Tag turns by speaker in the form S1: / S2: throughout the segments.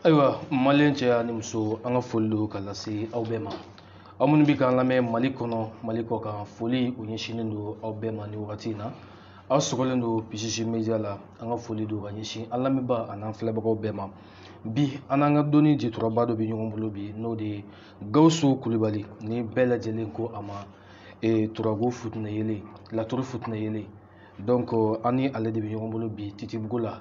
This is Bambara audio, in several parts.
S1: ayiwa mali cɛ ani muso an ka foli don ka lase aw bɛɛ ma aw minnu bɛ k'an lamɛn mali kɔnɔ mali kɔ kan foli ɲɛsinnen don aw bɛɛ ma nin wagati in na aw sogolen don pcc media la an ka foli don ka ɲɛsin an lamɛnbaa an'an filɛbagaw bɛɛ ma bi an n'an ka dɔnni jɛturaba dɔ bɛ ɲɔgɔn bolo bi n'o de ye gawusu kulubali ni bɛɛ lajɛlen ko a ma turabu futinɛ yeelen laturu futinɛ yeelen donc euh, an ni ale de bɛ ɲɔgɔn bolo bi titibugu la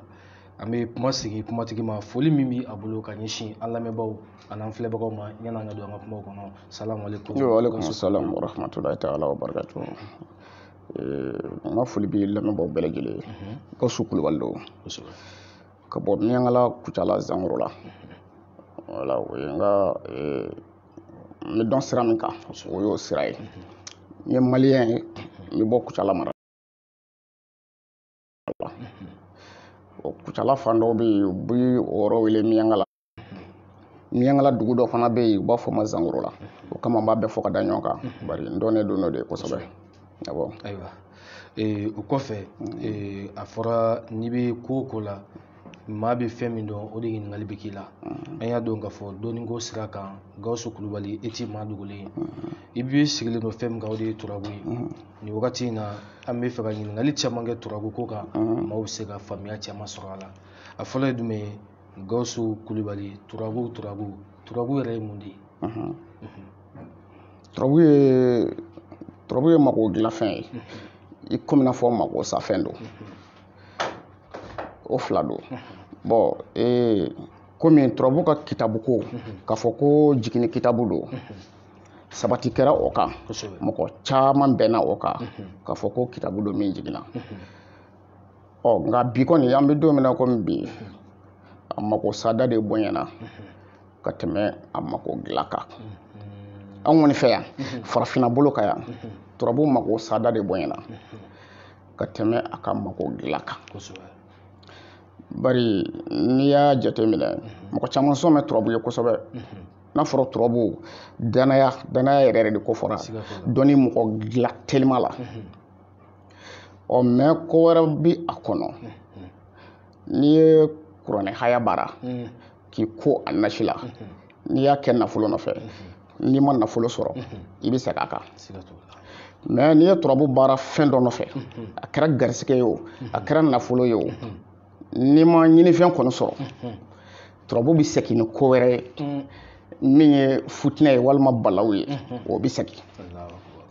S1: an bɛ kuma sigi kumatigi ma foli min bɛ a bolo ka ɲɛsin an lamɛnbaaw an'an filɛbagaw ma yanni an ka don an ka kumaw kɔnɔ salamu aleykum. yoo aleykum salaam wa rahmatulahi taala wa barakatu. Euh, n ka foli bɛ lamɛnbaaw bɛɛ lajɛlen ye. Gawusu mhm. Kulubali don. ka bɔ miyankala kucala zangoro la. Mhm. wala o ye n ka. Euh, n bɛ dɔn sira min kan o y'o sira ye n ye maliyɛn ye n bɛ bɔ kucala mara o kucala fan dɔw bɛ yen u bɛ o yɔrɔ wele miyankala miyankala dugu dɔ fana bɛ yen u b'a fɔ ma zangoro la o kama n b'a bɛɛ fɔ ka da ɲɔgɔn kan bari n dɔnnen don n'o de ye kosɛbɛ a bɔn ayiwa o kɔfɛ a fɔra n'i bɛ ko o ko la maa bɛ fɛn min dɔn o de ɲininkali bɛ k'i la mm-hmm. an y'a dɔn k'a fɔ dɔnniko sira kan gawusu kulubali e ti maa dogolen ye mm-hmm. i b'i sigilen don fɛn min kan o de ye turabu ye mm-hmm. nin wagati in na an bɛ fɛ ka ɲininkali caman kɛ turabu ko kan maaw bɛ se ka faamuya caman sɔrɔ a la a fɔlɔ ye jumɛn ye gawusu kulubali turabu turabu turabu yɛrɛ ye mun de ye turabu ye mago dilanfɛn ye i komi n'a fɔ mago safɛn don o fila don bɔn ee komi turabu ka kitabu ko k'a fɔ ko jigini kitabu don sabati kɛra o kan mɔgɔ caman bɛnna o kan k'a fɔ ko kitabu don min jiginna ɔ nka bi kɔni an bɛ don min na komi bi a mako sada de bonyana ka tɛmɛ a mako dilan kan an kɔni fɛ yan farafinna bolo kan yan turabu mako sada de bonyana ka tɛmɛ a ka mago dilan kan bari n'i y'a jateminɛ mɔgɔ caman sɔn bɛ turabu ye kosɛbɛ n'a fɔra turabu danaya danaya yɛrɛ yɛrɛ de kofɔra dɔnni mɔgɔ dilan telima la ɔ mɛ ko wɛrɛ bi a kɔnɔ n'i ye kuranɛ haya baara k'i ko a nasi la n'i y'a kɛ nafolo nɔfɛ n'i ma nafolo sɔrɔ i bɛ segin a kan mɛ n'i ye turabu baara fɛn dɔ nɔfɛ a kɛra garisɛgɛ ye o a kɛra nafolo ye o n'i ma ɲinifɛn kɔni sɔrɔ turabu bɛ segin ni ko wɛrɛ ye min ye futinɛ ye walima balaw ye o bɛ segin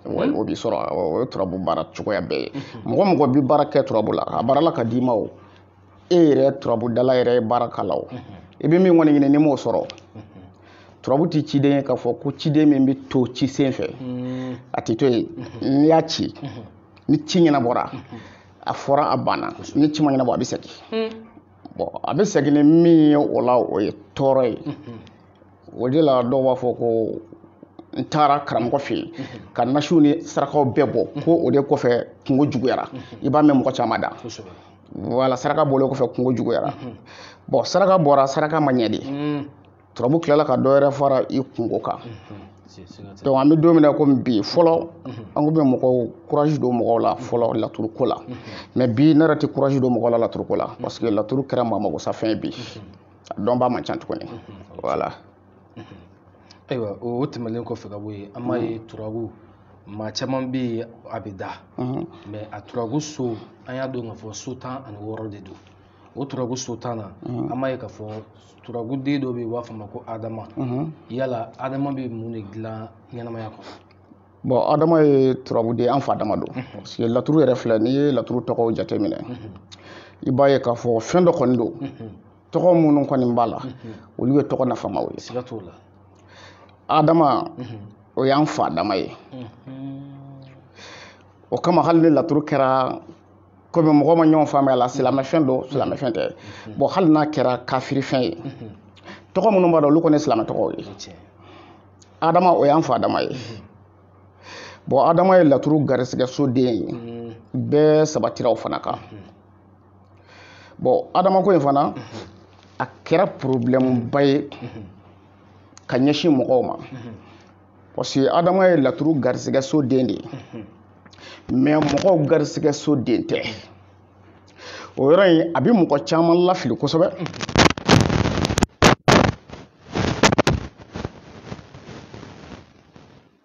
S1: o bɛ sɔrɔ o ye turabu baara cogoya bɛɛ ye mɔgɔ mɔgɔ bɛ baara kɛ turabu la a baara la ka d'i ma o e yɛrɛ turabudala yɛrɛ ye baara k'a la o i bɛ min kɔni ɲini n'i m'o sɔrɔ turabu tɛ ciden ye k'a fɔ ko ciden min bɛ to ci sen fɛ a tɛ to yen n'i y'a ci ni ci ɲɛnabɔra a fɔra a banna ni ci ma ɲɛnabɔ a bɛ segin bɔn a bɛ segin ni min ye o la o ye tɔɔrɔ ye o de la dɔw b'a fɔ ko n taara karamɔgɔ fɛ yen ka nasiw ni sarakaw bɛɛ bɔ ko o de kɔfɛ kunko juguyara i b'a mɛn mɔgɔ caman da wala saraka bɔlen kɔfɛ kunko juguyara mhm. bɔn saraka bɔra saraka ma ɲɛ dɛ mhm. turabu tilala ka dɔwɛrɛ fara i kunko kan mhm. donc an bɛ don min na komi bi fɔlɔ an tun bɛ mɔgɔw courage don mɔgɔw la fɔlɔ laturuko la mais bi ne yɛrɛ tɛ courage don mɔgɔw la laturuko la parce que laturu kɛra maa magosafɛn bi a dɔnbaa man ca tuguni voilà ayiwa o tɛmɛnlen kɔfɛ ka bɔ yen an b'a ye turabu maa caman bɛ yen a bɛ da mɛ a turabu so an y'a dɔn k'a fɔ so tan ani wɔɔrɔ de don o turabu so tan na an b'a ye k'a fɔ turabu den dɔ bɛ yen u b'a fɔ a ma ko adama yala adama bɛ mun de dilan ɲɛnamaya kɔnɔ bɔn adama ye turabu den an fa adama don parce que laturu yɛrɛ filɛ n'i ye laturu tɔgɔw jateminɛ i b'a ye k'a fɔ fɛn dɔ kɔni don tɔgɔ minnu kɔni b'a la olu ye tɔgɔ nafamaw ye siga t'o la adama o y'an fa adama ye o kama hali ni laturu kɛra komi mɔgɔ ma ɲɔgɔn faamuya la silamɛfɛn don silamɛfɛn tɛ bɔn hali n'a kɛra kafirifɛn ye tɔgɔ minnu b'a la olu kɔni ye silamɛ tɔgɔw ye adama o y'an fa adama ye bɔn adama ye laturu garisɛgɛso den ye bɛɛ sabatira o fana kan bɔn adamako in fana a kɛra porobilɛmuba ye ka ɲɛsin mɔgɔw ma parce que adama ye laturu garisɛgɛso den de ye mɛ mɔgɔw garisɛgɛso den tɛ o yɔrɔ in a bɛ mɔgɔ caman lafili kosɛbɛ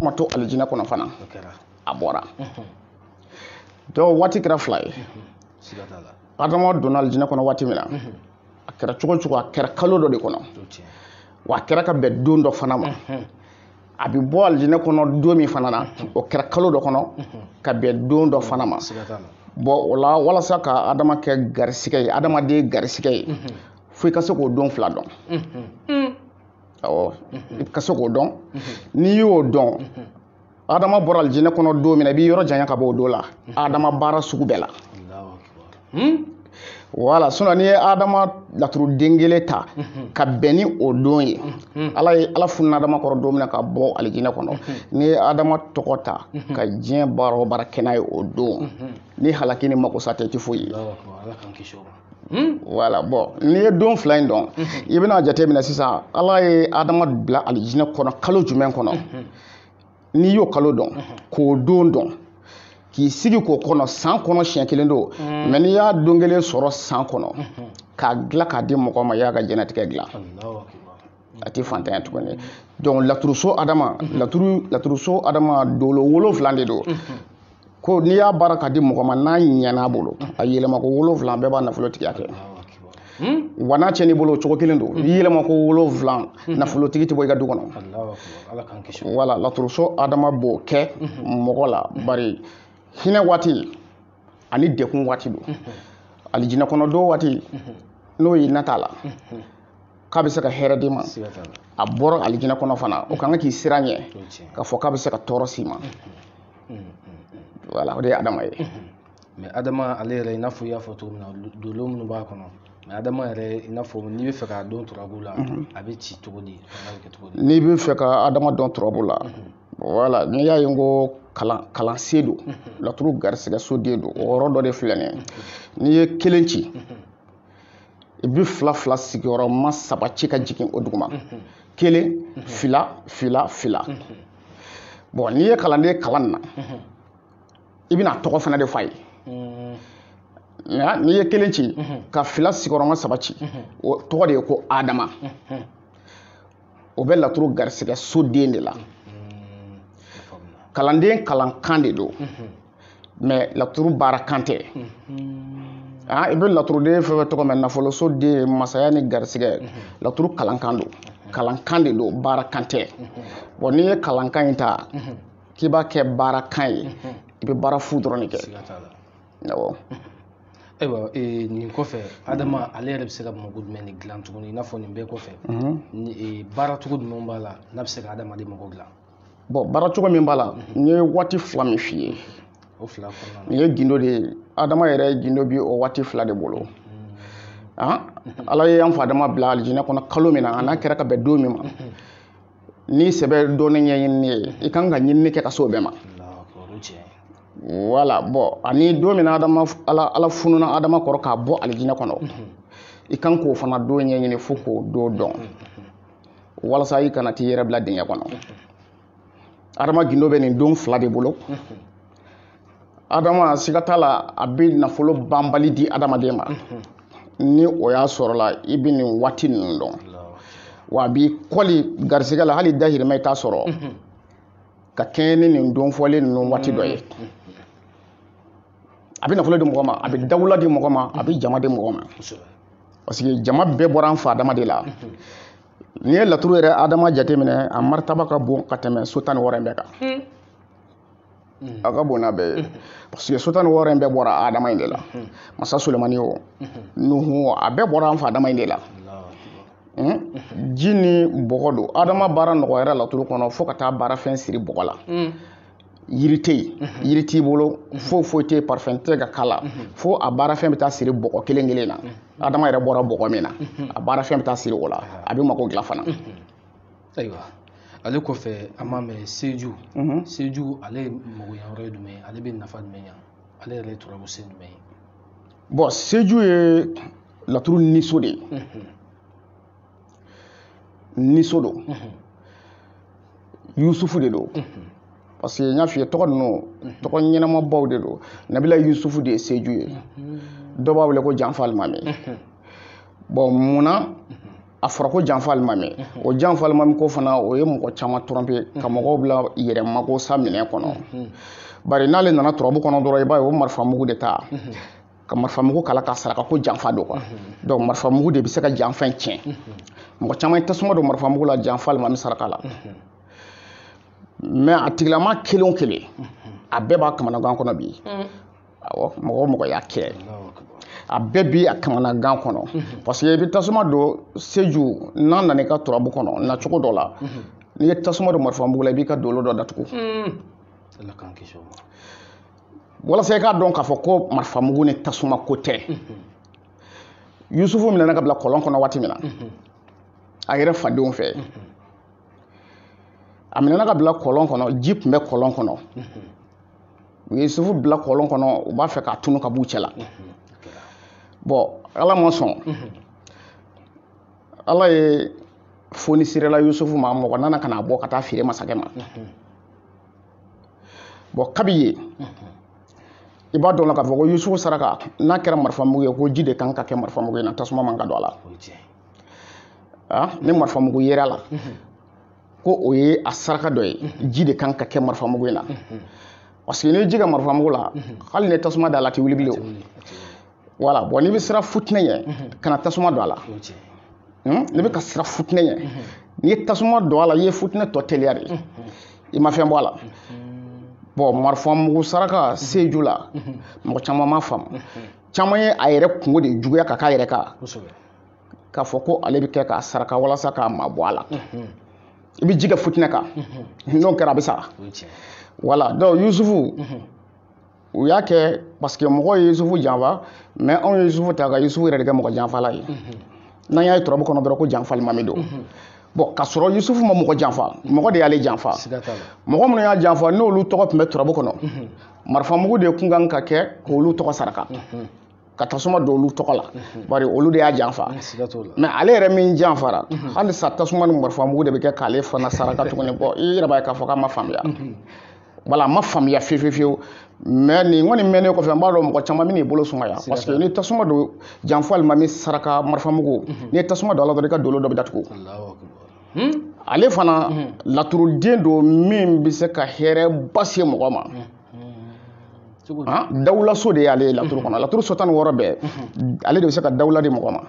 S1: a ma to alijina kɔnɔ fana a bɔra donc waati kɛra fila ye adama donna alijina kɔnɔ waati min na a kɛra cogo cogo a kɛra kalo dɔ de kɔnɔ wa a kɛra ka bɛn don dɔ fana ma a bɛ bɔ alijinɛ kɔnɔ don min fana na o kɛra kalo dɔ kɔnɔ ka bɛn don dɔ fana ma bɔn o la walasa ka adama kɛ garisigɛ ye adamaden garisigɛ ye fo i ka se k'o don fila dɔn i ka se k'o dɔn n'i y'o dɔn adama bɔra alijinɛ kɔnɔ don min na i b'i yɔrɔ janya ka bɔ o don la adama baara sugu bɛɛ la hmm? wala sinɔn n'i ye adama laturu den kelen ta mhm. ka bɛn ni o don ye mhm. ala ye ala fununa adama kɔrɔ don min na k'a bɔ alijinɛ kɔnɔ mhm. n'i ye adama tɔgɔ ta ka diɲɛ baara o baara kɛ n'a ye o don ni halaki ni makosa tɛ i tɛ foyi ye Hmm? wala bɔn n'i ye don fila in dɔn hmm. i bɛna jate minɛ sisan ala ye adama bila alijinɛ kɔnɔ kalo jumɛn kɔnɔ hmm. n'i y'o kalo dɔn k'o don dɔn k'i sigi k'o kɔnɔ san kɔnɔ siɲɛ kelen don mm. mɛ n'i y'a don kelen sɔrɔ san kɔnɔ mm-hmm. k'a dilan k'a di mɔgɔ ma i y'a ka diɲɛnatigɛ dilan a tɛ faantanya tuguni donc laturuso adama mm-hmm. laturu laturuso adama dolo wolonfila de don mm-hmm. ko n'i y'a baara ka di mɔgɔ ma n'a ɲɛna a bolo a yɛlɛma ko wolonwula bɛɛ b'a nafolotigiya kɛ wa n'a cɛn'i bolo o cogo kelen don i yɛlɛma ko wolonwula nafolotigi tɛ bɔ i ka du kɔnɔ wala laturuso adama b'o kɛ mɔgɔ la bari hinɛ waati ani degun waati don alijinɛ kɔnɔ don waati n'o ye na t'a la k'a bɛ se ka hɛrɛ d'i ma a bɔra alijinɛ kɔnɔ fana o kan ka k'i siranɲɛ k'a fɔ k'a bɛ se ka tɔɔrɔ s'i ma wala o de ye adama ye mɛ adama ale yɛrɛ i n'a fɔ i y'a fɔ cogo min na dolo minnu b'a kɔnɔ mɛ adama yɛrɛ i n'a fɔ n'i bɛ fɛ k'a dɔn turabu la a bɛ ci cogo di n'i bɛ fɛ ka adama dɔn turabu la wala n'i y'a ye n ko kalan kalansen don laturu garisigɛ soden don o yɔrɔ dɔ de filɛ nin ye n'i ye kelen ci i bɛ fila fila sigiyɔrɔma saba ci ka jigin o duguma kelen fila fila fila bɔn n'i ye kalanden kalan na i bɛn'a tɔgɔ fana de f'a ye nka n'i ye kelen ci ka fila sigiyɔrɔma saba ci o tɔgɔ de ye ko adama o bɛ laturu garisɛgɛ soden de la kalanden kalankan de don mɛ laturu baara kan tɛ ah, i bɛ laturuden fɛn o fɛn tɔgɔ mɛn nafoloso den masaya ni garisɛgɛ laturu kalankan don kalankan de don baara kan tɛ bɔn n'i ye kalankan in ta k'i b'a kɛ baara kan ye i bɛ baara fu dɔrɔn de kɛ awɔ ayiwa eh, nin kɔfɛ adama ale yɛrɛ bɛ se ka mago jumɛn de dilan tuguni i n'a fɔ nin bɛɛ kɔfɛ mhm. eh, baara cogo jumɛn b'a la n'a bɛ se ka adamaden mago dilan bɔn baara cogo min b'a la n ye waati fila min f'i ye nin ye gindo de ye adama yɛrɛ gindo bi o waati fila de bolo ah, ala ye an fa adama bila alijinɛ kɔnɔ kalo min na an'a kɛra ka bɛn don min ma n'i sɛbɛ don ni ɲɛɲini ye i kan ka ɲinini kɛ ka se o bɛɛ ma wala bɔn ani don min na adama ala ala fununa adama kɔrɔ k'a bɔ alijinɛ kɔnɔ i kan k'o fana don ɲɛɲini fo k'o don dɔn walasa i kana t'i yɛrɛ bila dingɛ kɔnɔ adama gindo bɛ nin don fila de bolo adama siga t'a la a bɛ nafolo banbali di adamaden ma ni o y'a sɔrɔla i bɛ nin waati ninnu dɔn wa a b'i kɔli garisɛgɛ la hali dahirimɛ i t'a sɔrɔ ka kɛɲɛ ni nin don fɔlen ninnu waati dɔ ye a bɛ nafolo di mɔgɔ ma a bɛ dawula di mɔgɔ ma a bɛ jama di mɔgɔ ma parce que jama bɛɛ bɔra an fa adama de la n'i ye laturu yɛrɛ adama jateminɛ a maritaba ka bon ka tɛmɛ so tan ni wɔɔrɔ in bɛɛ kan a ka bon n'a bɛɛ ye parce que so tan ni wɔɔrɔ in bɛɛ bɔra adama in de la masa sulemani o nuhu o a bɛɛ bɔra an fa adama in de la ji ni bɔgɔ don adama baara nɔgɔyara laturu kɔnɔ fo ka taa baarafɛn siri bɔgɔ la yiri tɛ yen mhm. yiri t'i bolo mhm. fo foyi tɛ yen parfum tɛ ka k'a la mhm. fo a baarafɛn bɛ taa siri bɔgɔ kelen kelen na adama yɛrɛ bɔra bɔgɔ min na a baarafɛn bɛ taa siri o la a bɛ mako dilan fana. ayiwa ale kɔfɛ an b'a mɛn seju seju ale ye magoya yɔrɔ ye jumɛn ye ale bɛ nafa jumɛn ɲa ale yɛrɛ ye turabu so jumɛn ye. bɔn seju ye laturu niso de ye. niso don yusufu de don parce que n y'a f'i ye tɔgɔ ninnu tɔgɔ ɲɛnamabaw de don nabila yusufu de ye seju ye dɔ b'a wele ko janfa alimami bɔn munna a fɔra ko janfa alimami o janfa alimami ko fana o ye mɔgɔ caman tromper ka mɔgɔw bila yɛrɛ mako sa minɛ kɔnɔ bari n'ale nana turabu kɔnɔ dɔrɔn i b'a ye o marifa mugu de ta ka marifa mugu k'a la k'a saraka ko janfa don quoi mhm. donc marifa mugu de bɛ se ka janfa in tiɲɛ mhm. mɔgɔ caman ye tasuma don marifa mugu la janfa alimami saraka la mhm. mais a tigilama kelen o kelen a bɛɛ b'a kamanagan kɔnɔ bi awɔ mɔgɔ o mɔgɔ y'a kɛ a bɛɛ bi a kamanagan kɔnɔ parce que i bɛ tasuma don seju n'a nana i ka turabu kɔnɔ na cogo dɔ la n'i ye tasuma don marifa mugu la i b'i ka dolo dɔ datugu. walasa i k'a dɔn k'a fɔ ko marifamugu ni tasuma ko tɛ yusufu minɛna ka bila kɔlɔn kɔnɔ waati min na a yɛrɛ fadenw fɛ a minɛna ka bila kɔlɔn kɔnɔ ji tun bɛ kɔlɔn kɔnɔ u ye yusufu bila kɔlɔn kɔnɔ u b'a fɛ k'a tunu ka b'u cɛ la bɔn ala ma sɔn ala ye fonisirela yusufu ma mɔgɔ nana ka n'a bɔ ka t'a feere masakɛ ma bɔn kabi yen i b'a dɔn la k'a fɔ ko yusufu saraka n'a kɛra marifamugu ye ko ji de kan ka kɛ marifamugu in na tasuma man ka don a la ah, ni marifamugu yera a la ko o ye a saraka dɔ ye ji de kan ka kɛ marifamugu in na parce que n'i ji kɛ marifamugu la hali ni tasuma d'a la a tɛ wuli bilen wala bɔn n'i bɛ siran funteni ɲɛ mhm. kana tasuma don a la hmm? n'i bɛ ka siran funteni ɲɛ mhm. n'i ye tasuma don a la i ye funteni tɔ teliya de mhm. i ma fɛn bɔ a la bɔn marifamugu saraka seju la mɔgɔ caman ma faamu caman ye a yɛrɛ kunko de juguya ka k'a yɛrɛ ka k'a fɔ ko ale bɛ kɛ k'a saraka walasa k'a mabɔ a la i bɛ ji kɛ funteni kan n'o kɛra a bɛ sara wala donc yusufu u y'a kɛ parce que mɔgɔw ye yusufu janfa mɛ anw ye yusufu ta ka yusufu yɛrɛ de kɛ mɔgɔ janfala ye n'an y'a ye turabu kɔnɔ dɔrɔn ko janfa alimami don bɔn ka sɔrɔ yusufu ma mɔgɔ janfa mɔgɔ de y'ale janfa mɔgɔ minnu y'a janfa n'olu tɔgɔ tun bɛ turabu kɔnɔ marifamugu de kun kan ka kɛ k'olu tɔgɔ saraka ka tasuma don olu tɔgɔ la bari olu de y'a janfa mɛ ale yɛrɛ min janfara halisa tasuma ni marifa mugu de bɛ kɛ k'ale fana saraka tuguni bɔn i yɛrɛ b'a ye k'a fɔ k'a ma faamuya wala a ma faamuya fiye fiye fiyewu mɛ nin kɔni mɛnnen kɔfɛ n b'a dɔn mɔgɔ caman bɛn'i bolo sumaya parce que ni tasuma don janfa alimami saraka marifa mugu n'i ye tasuma don a la dɔrɔn i ka dolo dɔ bɛ datugu ale fana laturuden don min bɛ se ka hɛrɛ ba se mɔgɔ ma ah, dawulaso de y'ale ye laturu kɔnɔ laturu so tan ni wɔɔrɔ bɛɛ ale de bɛ se ka dawula di mɔgɔ ma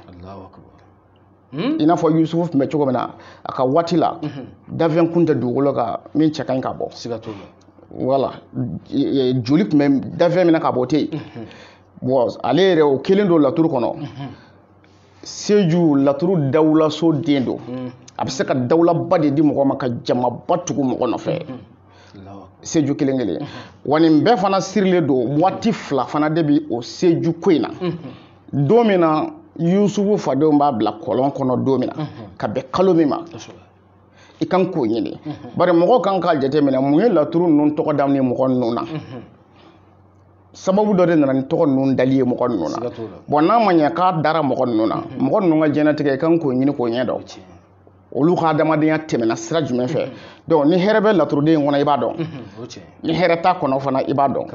S1: hmm? i n'a fɔ yusufu tun bɛ cogo min na a ka waati la danfɛn kun tɛ dugukolo kan min cɛ ka ɲi ka bɔ wala joli tun bɛ danfɛn min na ka bɔ tɛ yen bɔn ale yɛrɛ o kelen don laturu kɔnɔ seju laturu dawulaso den don a bɛ se ka dawulaba de di mɔgɔ ma ka jamaba tugu mɔgɔ nɔfɛ seju kelen kelen wa nin bɛɛ fana sirilen don waati fila fana de bi o seju ko in na don min na yusufu fadenw b'a bila kɔlɔn kɔnɔ don min na ka bɛn kalo min ma i kan k'o ɲini bari mɔgɔw kan k'a jateminɛ mun ye laturu ninnu tɔgɔ da ni mɔgɔ ninnu na sababu dɔ de nana ni tɔgɔ ninnu dali ye mɔgɔ ninnu na bɔn n'a ma ɲɛ k'a dara mɔgɔ ninnu na mɔgɔ ninnu ka diɲɛnatigɛ i kan k'o ɲini k'o ɲɛ dɔn olu ka adamadenya tɛmɛna sira jumɛn fɛ donc ni hɛrɛ bɛ laturuden in kɔnɔ i b'a dɔn ni hɛrɛ t'a kɔnɔ fana i b'a dɔn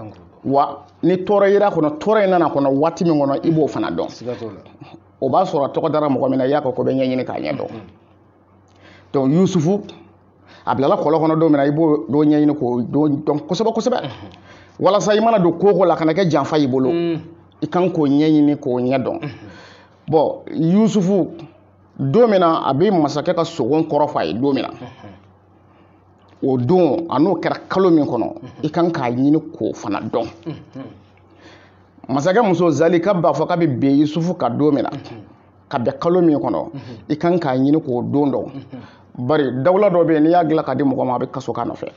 S1: wa ni tɔɔrɔ yer'a kɔnɔ tɔɔrɔ in nan'a kɔnɔ waati min kɔnɔ i b'o fana dɔn o b'a sɔrɔ tɔgɔ dara mɔgɔ min na i y'a kɔ ko bɛɛ ɲɛɲini k'a ɲɛ dɔn donc yusufu a bilala kɔlɔn kɔnɔ don min na i b'o don ɲɛɲini k'o dɔn kosɛbɛ kosɛbɛ walasa i mana don ko ko la kana kɛ janfa y'i bolo i kan k'o ɲɛɲini k'o ɲɛ dɔn bɔn yusufu don min na a bɛ masakɛ ka sogo kɔrɔ f'a ye don min na o don an'o kɛra kalo min kɔnɔ i kan k'a ɲini k'o fana dɔn masakɛ muso zalika b'a fɔ k'a bɛ bin yusufu kan don min na ka bɛn kalo min kɔnɔ i kan k'a ɲini k'o don dɔn bari dawula dɔ bɛ yen n'i y'a dilan ka di mɔgɔ ma a bɛ kaso k'a nɔfɛ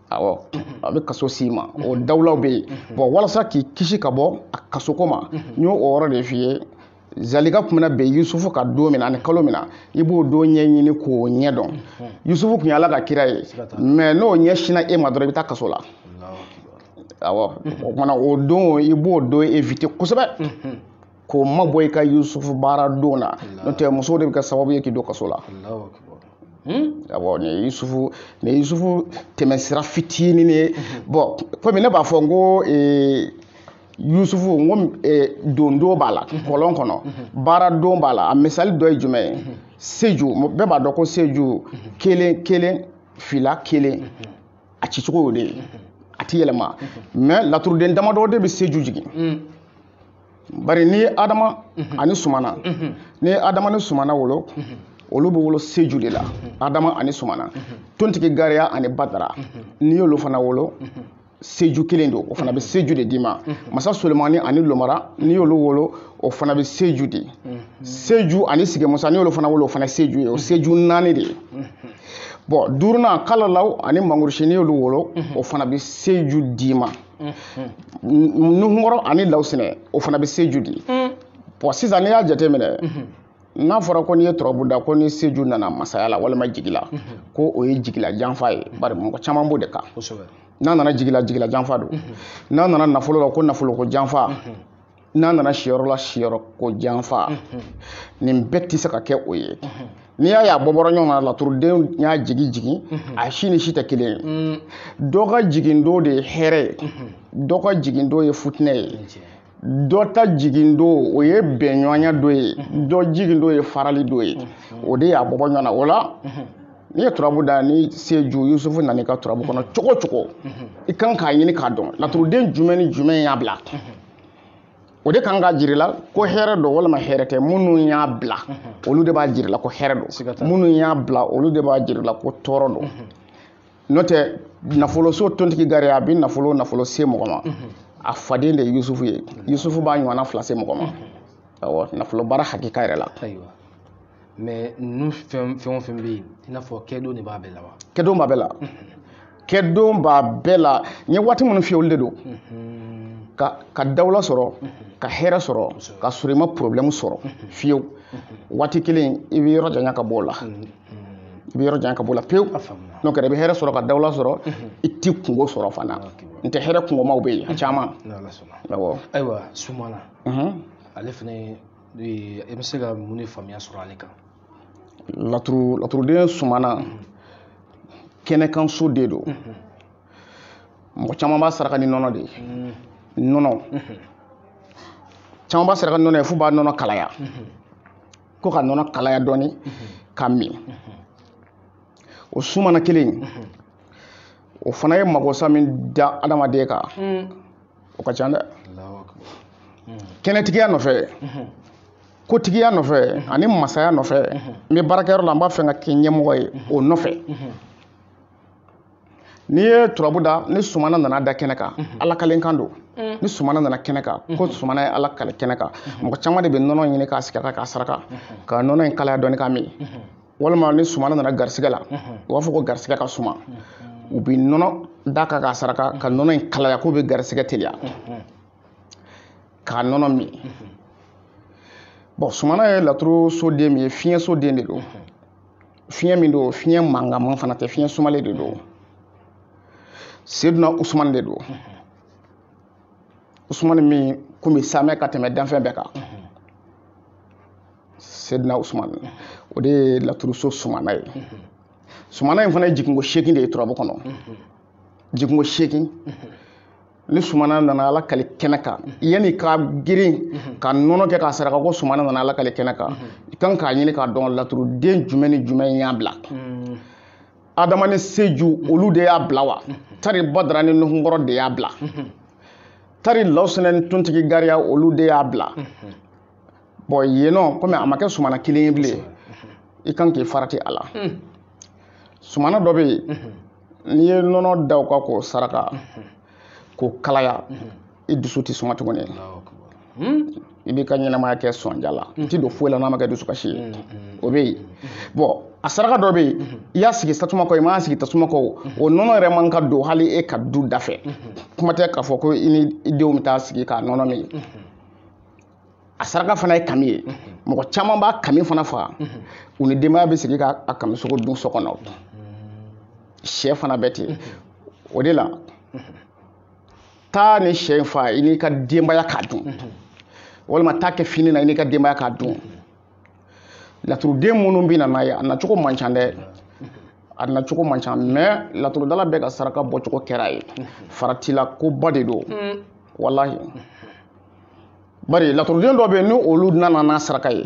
S1: awɔ a bɛ kaso s'i ma o dawulaw bɛ yen bɔn walasa k'i kisi ka bɔ a kasoko ma n y'o yɔrɔ de f'i ye zalika tun bɛna bin yusufu kan don min na ani kalo min na i b'o don ɲɛɲini k'o ɲɛ dɔn yusufu tun ye ala ka kira ye mɛ n'o ɲɛsinna i ma dɔrɔn i bɛ taa kaso la awɔ o kama na o don i b'o don evite kosɛbɛ k'o mabɔ i ka yusufu baara don na n'o tɛ musow de bɛ kɛ sababu ye k'i don kaso la Hmm? awɔ nin ye yusufu nin ye yusufu tɛmɛsira fitinin ye bɔn komi ne b'a fɔ n ko ee, yusufu n ko eh, dondon b'a la kɔlɔn kɔnɔ baaradon b'a la a misali dɔ ye jumɛn ye seju bɛɛ b'a dɔn ko seju kelen kelen fila kelen a cicogo y'o de ye a ti yɛlɛma mɛ laturuden damadɔ de bɛ seju jigin bari n'i ye adama ani sumana n'i ye adama ni sumana wolo olu bɛ wolo seju de la adama ani sumana tontigi gariya ani badara n'i y'olu fana wolo seju kelen don o fana bɛ seju de d'i ma masa solimani ani lomara n'i y'olu wolo o fana bɛ seju di seju ani sigimusa n'i y'olu fana wolo o fana seju ye o seju naani de ye bɔn duurunan kalalaw ani mangurusi n'i y'olu wolo o fana bɛ seju d'i ma nuhunkɔrɔ ani lawusinɛ o fana bɛ seju di bɔn sisan n'i y'a jateminɛ n'a fɔra ko n'i ye turabu da ko ni seju nana masaya la walima jigila ko o ye jigila janfa ye bari mɔgɔ caman b'o de kan n'a nana jigila jigila janfa don n'a nana nafolo la ko nafolo ko janfa n'a nana siyɔrɔ la siyɔrɔ ko janfa nin bɛɛ tɛ se ka kɛ o ye n'i y'a ye a bɔbɔra ɲɔgɔn na laturuden y'a jigin jigin a si ni si tɛ kelen ye dɔ ka jigin don de ye hɛrɛ ye dɔ ka jigin don ye futinɛ ye dɔ ta jigin don o ye bɛnɲɔgɔnya don ye mhm. dɔ jigin don ye farali don ye mhm. o de y'a bɔbɔ ɲɔgɔn na o la mhm. n'i ye turabu da ni seju yusufu nana i ka turabu kɔnɔ cogo cogo i kan k'a ɲini k'a dɔn laturuden jumɛn ni jumɛn y'a bila o de kan k'a jir'i la ko hɛrɛ don walima hɛrɛ tɛ minnu y'a bila olu de b'a jir'i la ko hɛrɛ don minnu y'a bila olu de b'a jir'i la ko tɔɔrɔ don n'o tɛ nafoloso tontigi gariya bɛ nafolo nafolo se mɔgɔ ma a faden de ye yusufu ye yusufu b'a ɲɔgɔnna fila se mɔgɔ ma awɔ nafolo baara hakika yɛrɛ la ayiwa mɛ ninnu fɛn fɛn o fɛn bɛ yen i n'a fɔ kɛdon de b'a bɛɛ la wa kɛdon b'a bɛɛ la kɛdon b'a bɛɛ la n ye waati minnu f'i ye olu de don ka ka dawula sɔrɔ ka hɛrɛ sɔrɔ ka sɔrɔ i ma porobilɛmu sɔrɔ fiyewu waati kelen i b'i yɔrɔ janya ka bɔ o la i bɛ yɔrɔ jan ka b'o la pewu n'o kɛra i bɛ hɛrɛ sɔrɔ ka dawula sɔrɔ i tɛ kungo sɔrɔ fana n'o tɛ hɛrɛ kungomaw bɛ yen a caman awɔ ayiwa sumana ale fana i bɛ se ka mun de faamuya sɔrɔ ale kan laturu laturuden sumana kɛnɛkanso de don mɔgɔ caman b'a saraka ni nɔnɔ de ye nɔnɔ caman b'a saraka ni nɔnɔ ye f'u b'a nɔnɔ kalaya ko ka nɔnɔ kalaya dɔɔni ka min o sumana kelen in o fana ye magosa min da adamaden kan o ka ca dɛ kɛnɛtigiya nɔfɛ kotigiya nɔfɛ ani masaya nɔfɛ n bɛ baarakɛyɔrɔ la n b'a fɛ ka kɛ ɲɛmɔgɔ ye o nɔfɛ n'i ye turabu da ni sumana nana da kɛnɛ kan mhm. alakali kan don mhm. ni sumana nana kɛnɛ kan ko mhm. sumana ye alakali kɛnɛ kan mɔgɔ caman de bɛ nɔnɔ ɲini k'a sigata k'a saraka ka nɔnɔ in kalaya dɔɔni ka min walima ni sumana nana garisigɛ la u b'a fɔ ko garisigɛ ka suma u bɛ nɔnɔ da ka k'a saraka ka nɔnɔ in kalaya k'u bɛ garisigɛ teliya k'a nɔnɔ min bɔn sumana ye laturu soden min ye fiɲɛso den de don fiɲɛ min don fiɲɛ mankanman fana tɛ fiɲɛ sumalen de don seduna usumani de don usumani min kun bɛ samɛ ka tɛmɛ danfɛn bɛɛ kan seduna usumani o de ye laturuso sumana ye sumana in fana ye jiginko seegin de ye turabu kɔnɔ jiginko seegin ni sumana nana alakali kɛnɛ kan yann'i ka girin ka nɔnɔ kɛ k'a saraka ko sumana nana alakali kɛnɛ kan i kan k'a ɲini k'a dɔn laturuden jumɛn ni jumɛn y'a bila adama ni seju olu de y'a bila wa tari badara ni nuhunkɔrɔ de y'a bila tari lawusɛnɛ ni tontigi gariya olu de y'a bila bɔn yen nɔ kɔmi a ma kɛ sumana kelen ye bilen i kan k'i farati a la hmm. sumana dɔ bɛ yen hmm. n'i ye nɔnɔ da u ka k'o saraka hmm. k'o kalaya i dusu tɛ suma tuguni i b'i ka ɲɛnamaya kɛ sɔnja la i ti don foyi la n'a ma kɛ dusukasi ye o bɛ yen bɔn a saraka dɔ bɛ yen i y'a sigi tasuma kan o i m'a sigi tasuma kan o nɔnɔ yɛrɛ man ka don hali e ka du da fɛ kuma tɛ k'a fɔ ko i n'i denw bɛ taa sigi k'a nɔnɔ min a saraka fana ye kami ye mɔgɔ caman b'a kami fana faga u ni denbaya bɛ sigi ka a kami sogo dun so kɔnɔ shɛ fana bɛ ten o de la taa nin shɛ in fa i n'i ka denbaya k'a dun walima taa kɛ fini na i n'i ka denbaya k'a dun laturuden minnu bɛ na n'a ye a nacogo man ca dɛ a nacogo man ca mɛ laturudala bɛɛ ka saraka bɔcogo kɛra ye faratila koba de don walahi bari laturuden dɔ bɛ yen ni olu nana n'a saraka ye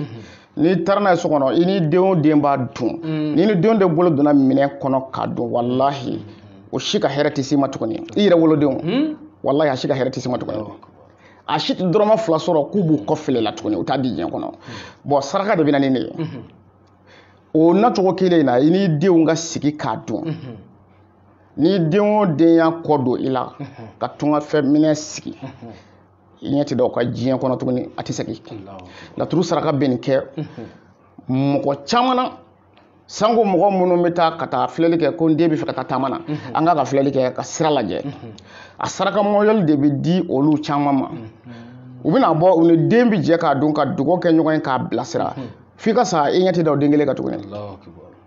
S1: n'i taara n'a ye so kɔnɔ i ni den o den b'a dun mm. n'i ni den o den bolo donna minɛn kɔnɔ k'a dun walahi o si ka hɛrɛ tɛ s'i ma tuguni i yɛrɛ wolodenw mm. walahi a si ka hɛrɛ tɛ s'i ma tuguni a si tɛ dɔrɔmɛ fila sɔrɔ k'u b'u kɔfilɛ i la tuguni u t'a di diɲɛ kɔnɔ mm. bɔn saraka de bɛ na ni nin ye mm-hmm. o nacogo kelen in na i ni denw ka sigi k'a dun mm-hmm. ni den o den y'a kɔ don i la ka tungafɛ minɛ sigi i ɲɛ tɛ da o kan diɲɛ kɔnɔ tuguni a tɛ segin laturu saraka bɛ nin kɛ mɔgɔ caman na sanko mɔgɔ minnu bɛ taa ka taa filɛli kɛ ko n den bɛ fɛ ka taa taama na an k'a ka filɛli kɛ ka sira lajɛ a saraka mɔyɔli de bɛ di olu caman ma u bɛna bɔ u ni den bɛ jɛ k'a dun ka dugawu kɛ ɲɔgɔn ye k'a bilasira f'i ka sa i ɲɛ tɛ da o den kelen kan tuguni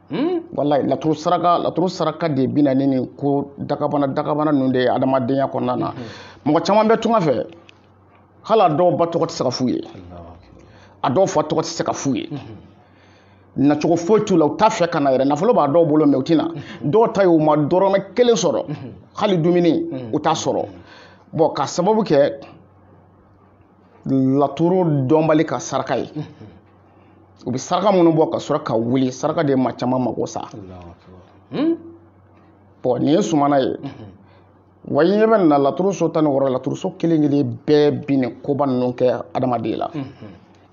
S1: Hmm? walayi laturu saraka laturu saraka de bɛ na ni nin ko dagabana dagabana ninnu de ye adamadenya kɔnɔna na hmm. mɔgɔ caman bɛ tunga fɛ hali a dɔw ba tɔgɔ tɛ se ka f'u ye a dɔw fa tɔgɔ tɛ se ka f'u ye hmm. nacogo foyi t'u la u t'a fɛ ka na yɛrɛ nafolo b'a dɔw bolo mɛ u tɛ na dɔw ta ye u ma dɔrɔmɛ kelen sɔrɔ hali dumuni u t'a sɔrɔ bɔn k'a sababu kɛ laturu dɔnbali ka saraka ye u bɛ saraka minnu bɔ ka sɔrɔ ka wuli saraka de ye maa caman mago sa hmm? bɔn nin ye sumana ye wa i ɲɛ bɛ na laturu so tan ni wɔɔrɔ laturu so kelen kelen bɛɛ bi nin koba ninnu kɛ adamaden la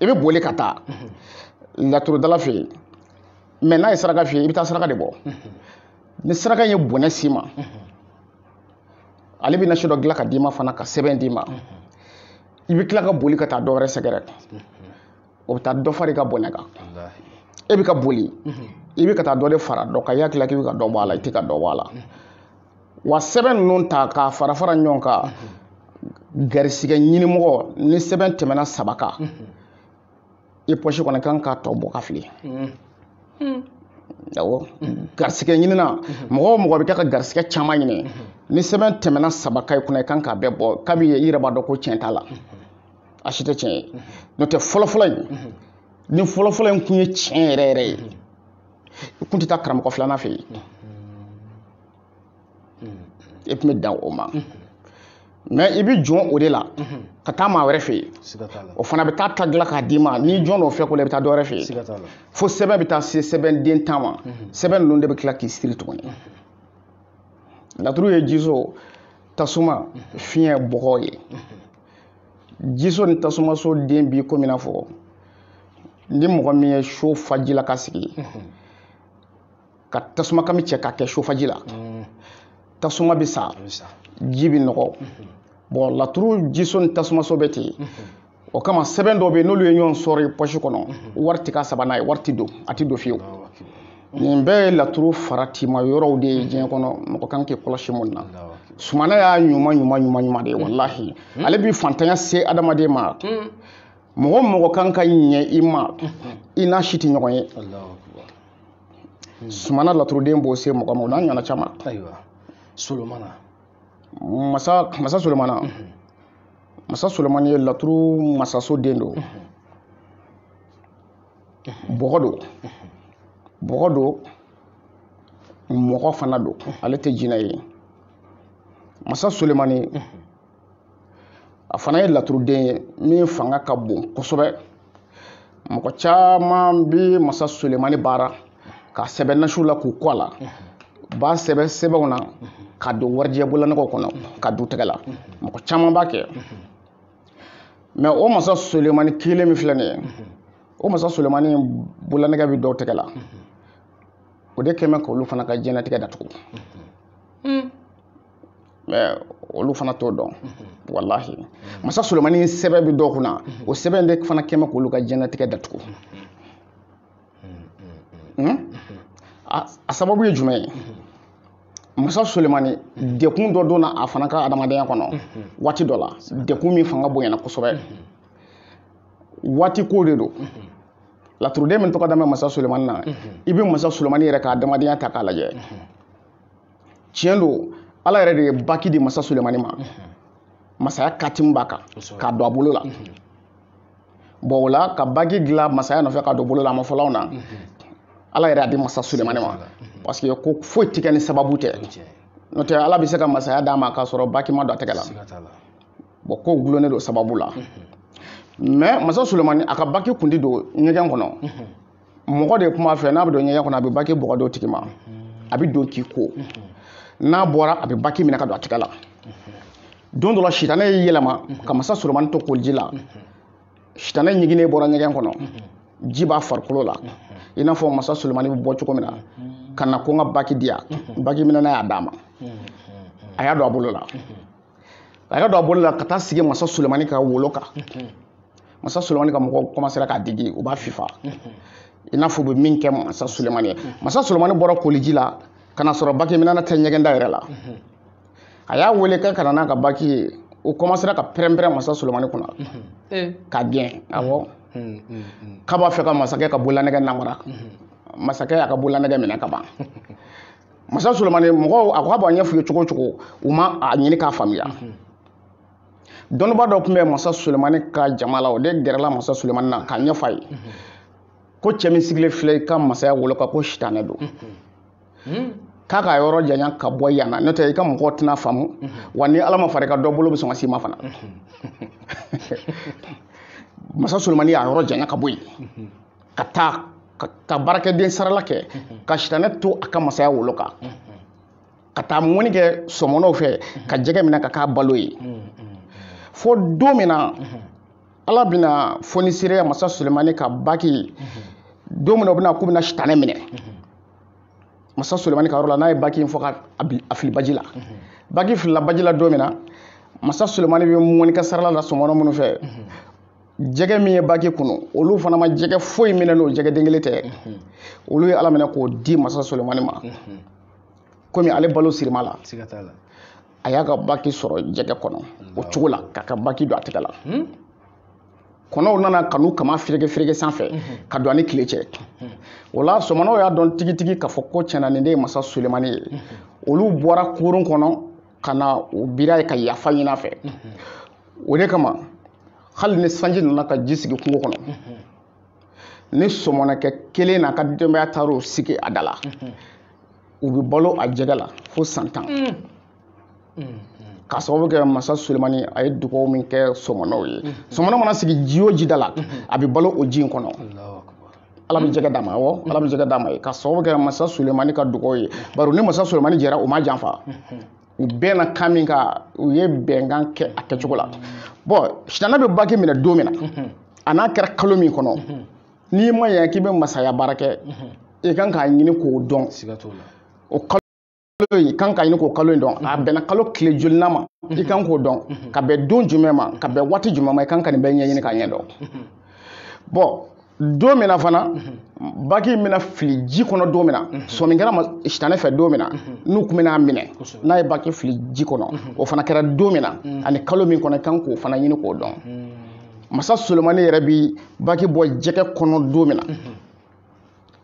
S1: i bɛ boli ka taa laturudala fɛ yen mɛ n'a ye saraka f'i ye i bɛ taa saraka de bɔ ni saraka ye bɔnɛ s'i ma ale bɛ nasi dɔ dilan ka d'i ma fana ka sɛbɛn d'i ma i bɛ tila ka boli ka taa dɔ wɛrɛ sɛgɛrɛ o bɛ taa dɔ far'i ka bɔnɛ kan e bɛ ka boli i bɛ ka taa dɔ de fara dɔ kan i hakili la k'i bɛ ka dɔ bɔ a la i tɛ ka dɔ bɔ a la wa sɛbɛn ninnu ta k'a fara fara ɲɔgɔn kan garisigɛ ɲinimɔgɔ ni sɛbɛn tɛmɛna saba kan i pɔsi kɔnɔ i kan k'a tɔ bɔ k'a fili mm. mm. awɔ mm. garisigɛ ɲinina mm-hmm. mɔgɔ o mɔgɔ bɛ kɛ ka garisigɛ caman ɲini mm-hmm. ni sɛbɛn tɛmɛna saba kan i kunna i kan k'a bɛɛ bɔ kabi i yɛrɛ b'a dɔn ko tiɲɛ t'a la mm-hmm. a si tɛ tiɲɛ ye n'o tɛ fɔlɔfɔlɔ in ni fɔlɔfɔlɔ in kun ye tiɲɛ yɛrɛ yɛrɛ ye i kun tɛ taa karamɔgɔ filanan fɛ yen e tun bɛ dan o ma mɛ i bɛ jɔn o de la ka taa maa wɛrɛ fɛ yen o fana bɛ taa ta dilan k'a d'i ma n'i jɔn o fɛ ko la i bɛ taa dɔ wɛrɛ fɛ yen fo sɛbɛn bɛ taa se sɛbɛn den tan ma sɛbɛn ninnu de bɛ tila k'i siri tuguni laturu ye jiso tasuma fiɲɛ bɔgɔ ye jiso ni tasumaso den b'i komi n'a fɔ ni mɔgɔ min ye so fa ji la k'a sigi ka tasuma kami cɛ k'a kɛ so fa ji la mm. tasuma bɛ sa ji bɛ nɔgɔ mm-hmm. bɔn laturu jiso ni tasumaso bɛ ten mm-hmm. o kama sɛbɛn dɔ bɛ yen n'olu ye ɲɔgɔn sɔrɔ pɔsi kɔnɔ mm-hmm. wari tɛ ka saba n'a ye wari tɛ don a tɛ don fiyewu nin bɛɛ ye laturu faratima yɔrɔw de ye diɲɛ kɔnɔ mɔgɔ kan k'i kɔlɔsi min na sumana y'a ɲuman ɲuman ɲuman ɲuman de ye walahi ale bɛ fantanya se adamaden ma mɔgɔ mɔgɔ kan ka ɲɛ i ma i n'a si tɛ ɲɔgɔn ye hmm. sumana laturuden b'o se mɔgɔ ma o n'a ɲɔgɔnna caman ayiwa solomana masa masa solomana hmm. masa solomani ye laturu masaso den don hmm. bɔgɔ don bɔgɔ don mɔgɔ fana don ale tɛ jinɛ ye masa solomani a fana ye laturuden ye min fanga ka bon kosɛbɛ mɔgɔ caman bɛ masa sulemani baara k'a sɛbɛn nasiw la k'u ko a la b'a sɛbɛn sɛbɛnw na k'a don warijɛ bololanɛgɛw kɔnɔ k'a d'u tɛgɛ la mɔgɔ caman b'a kɛ mɛ o masa sulemani kelen min filɛ nin ye o masa sulemani bololanɛgɛ bɛ dɔw tɛgɛ la o de kɛmɛ k'olu fana ka diɲɛnatigɛ datugu mɛ olu fana t'o dɔn walahi masa solomani sɛbɛn bɛ dɔw kunna o sɛbɛn de fana kɛmɛ k'olu ka diɲɛnatigɛ datugu hmm? a sababu ye jumɛn ye masa solemani degun dɔ donna a fana ka adamadenya kɔnɔ waati dɔ la degun min fanga bonyana kosɛbɛ waati ko de don laturuden min tɔgɔ dalen bɛ masa solemani na i bɛ masa solemani yɛrɛ ka adamadenya ta k'a lajɛ tiɲɛ don ala yɛrɛ de ye baki di masa sulemani ma masaya katimu b'a kan k'a don a bolo la bɔn o la ka baki dilan masaya nɔfɛ k'a don bolo la a ma fɔlɔ aw na ala yɛrɛ y'a di masa sulemani ma parce que ko foyi tɛ kɛ ni sababu tɛ n'o tɛ ala bɛ se ka masaya d'a ma k'a sɔrɔ baki ma don a tɛgɛ la bɔn ko dulonnen don sababu la mɛ masa sulemani a ka baki tun tɛ don ɲɛgɛn kɔnɔ mɔgɔ de tun b'a fɛ n'a bɛ don ɲɛgɛn kɔnɔ a bɛ baki bɔ k'a d'o tigi ma a bɛ don k'i ko n'a bɔra a bɛ baki minɛ k'a don a tɛgɛ la don dɔ la sitanɛ y'i yɛlɛma ka masa solomani to koliji la sitanɛ ɲiginnen bɔra ɲɛgɛn kɔnɔ ji b'a farikolo la i n'a fɔ masa solomani bɛ bɔ cogo min na ka na ko n ka baki di yan baki minɛna y'a d'a ma a y'a don a bolo la a y'a don a bolo la ka taa sigi masa sulemani ka wolo kan masa sulemani ka mɔgɔw kɔmasera k'a digi u b'a fifa i n'a fɔ u bɛ min kɛ masa sulemani ye masa sulemani bɔra koliji la ka n'a sɔrɔ baki minɛna tɛ ɲɛgɛnda yɛrɛ la a y'a wele k'a ka na n'a ka baki ye u kɔmasera ka pɛrɛnpɛrɛn masa sulemani kunna k'a gɛn awɔ k'a b'a fɛ ka masakɛ ka bololanɛgɛ namara masakɛ y'a ka bololanɛgɛ minɛ ka ban masa solomani mɔgɔw a ko a b'a ɲɛf'u ye cogo o cogo u ma a ɲini k'a faamuya dɔnnibaa dɔ tun bɛ masa solomani ka jama la o de gɛrɛla masa solomani na k'a ɲɛfɔ a ye ko cɛ min sigilen filɛ i ka masaya wolo kan ko sitanɛ don k'a k'a yɔrɔ janya ka bɔ yan na n'o tɛ i ka mɔgɔw tɛna faamu wa ni ala ma far'i kan dɔ bolo bɛ sɔn ka s'i ma fana masa solomani y'a yɔrɔ janya ka bɔ yen ka taa ka baarakɛden sarala kɛ ka sitanɛ to a ka masaya wolo kan ka taa mɔnni kɛ sɔmɔnɔw fɛ ka jɛgɛ minɛ ka k'a balo ye fo don min na ala bɛna fonisireya masa sulemani ka baki don min na u bɛna k'u bɛna sitanɛ minɛ masa sulemani ka yɔrɔ la n'a ye baki in bɔ ka a fili baji la baki filila baji la don min na masa sulemani bɛ mɔnni kɛ sarala la sɔmɔnɔ minnu fɛ jɛgɛ min ye baki kunu olu fana ma jɛgɛ foyi minɛ n'o jɛgɛden kelen tɛ mhm. olu ye ala minɛ k'o di masa solomani ma mhm. komi ale balo sirilen b'a la a y'a ka baki sɔrɔ jɛgɛ kɔnɔ o cogo la k'a ka baki don a tɛgɛ la hmm? kɔnɔw nana ka n'u kaman fereke fereke sanfɛ mhm. ka don a ni tile cɛ o la sɔmɔnɔw y'a dɔn tigitigi k'a fɔ ko tiɲɛna nin de ye masa solemani ye olu bɔra kurun kɔnɔ ka na u bir'a ye ka yafa ɲin'a fɛ o de kama hali ni sanji nana ka ji sigi kungo kɔnɔ ni sɔmɔnɔkɛ kelen n'a ka denbaya taar'u sigi a da la u bɛ balo a jɛgɛ la fo san tan k'a sababu kɛ masa sulemani a ye dugaw min kɛ sɔmɔnɔw ye sɔmɔnɔ mana sigi ji o ji da la a bɛ balo o ji in kɔnɔ ala bɛ jɛgɛ d'a ma awɔ ala bɛ jɛgɛ d'a ma yen k'a sababu kɛ masa sulemani ka dugaw ye bari ni masa sulemani jɛra u m'a janfa u bɛnna kan min kan u ye bɛnkan kɛ a kɛcogo la bɔn sitanɛ bɛ baki minɛ don min na a n'a kɛra kalo min kɔnɔ n'i ma yan k'i bɛ masaya baara kɛ i kan k'a ɲini k'o dɔn o kalo i kan k'a ɲini k'o kalo in dɔn a bɛnna kalo tile jolina ma i kan k'o dɔn ka bɛn don jumɛn ma ka bɛn waati jumɛn ma i kan ka nin bɛɛ ɲɛɲini k'a ɲɛdɔn bɔn don min na fana baki in bɛna fili ji kɔnɔ don min na sɔmi kɛra ma sitanɛ fɛ don min na n'u tun bɛn'a minɛ n'a ye baki fili ji kɔnɔ o fana kɛra don min na ani kalo min kɔnɔ i kan k'o fana ɲini k'o dɔn masa solomani yɛrɛ bi baki bɔ jɛgɛ kɔnɔ don min na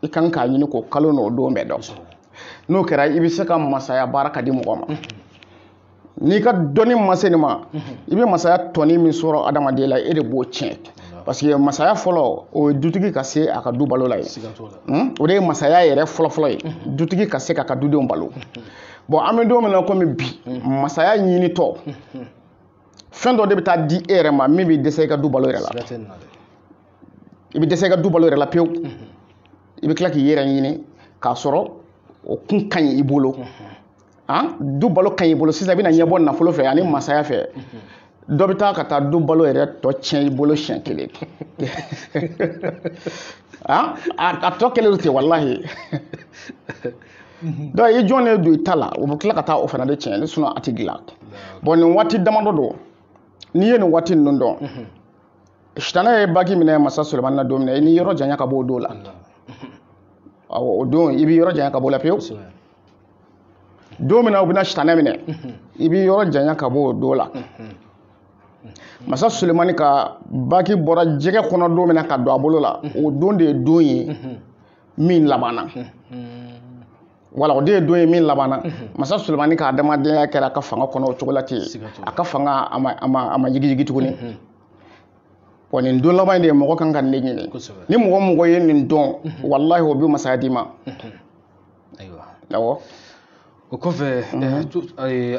S1: i kan k'a ɲini k'o kalo n'o don bɛɛ dɔn n'o kɛra i bɛ se ka masaya baara k'a di mɔgɔ ma n'i ka dɔnni ma se nin ma i bɛ masaya tɔni min sɔrɔ adamaden la e de b'o tiɲɛ parce que masaya fɔlɔ o ye dutigi ka se a ka du balo la ye hmm? o de ye masaya yɛrɛ fɔlɔfɔlɔ ye dutigi ka se k'a ka dudenw balo bɔn an bɛ don min na komi bi masaya ɲinitɔ fɛn dɔ de bɛ taa di e yɛrɛ ma min bɛ dɛsɛ i ka du balo yɛrɛ la i bɛ dɛsɛ i ka du balo yɛrɛ la pewu i bɛ tila k'i yɛrɛ ɲini k'a sɔrɔ o tun ka ɲi i bolo an du balo ka ɲi i bolo sisan i bɛna ɲɛbɔ nafolo fɛ ani masaya fɛ dɔ bɛ taa ka taa du balo yɛrɛ tɔ tiɲɛ i bolo siɲɛ kelen a tɔ kɛlen don ten walahi dɔw i jɔn de don i ta la u bɛ tila ka taa o fana de tiɲɛ sinɔ a tɛ dilan bɔn nin waati damadɔ don n'i ye nin waati ninnu dɔn sitanɛ ye baki minɛ masa solomani na don min na i n'i yɔrɔ janya ka bɔ o don la o don i b'i yɔrɔ janya ka bɔ o la pewu don min na u bɛna sitanɛ minɛ i b'i yɔrɔ janya ka bɔ o don la masa sulemani ka baki bɔra jɛgɛ kɔnɔ don min na ka don a bolo la o don de ye don ye min labanna wala o de ye don ye min labanna masa sulemani ka adamadenya kɛra a ka fanga kɔnɔ o cogo la ten a ka fanga a ma yigiyigi tuguni wa nin don laban in de ye mɔgɔ kan ka nin ɲini ni mɔgɔ o mɔgɔ ye nin dɔn walahi o bɛ masaya d'i ma ayiwa awɔ o kɔfɛ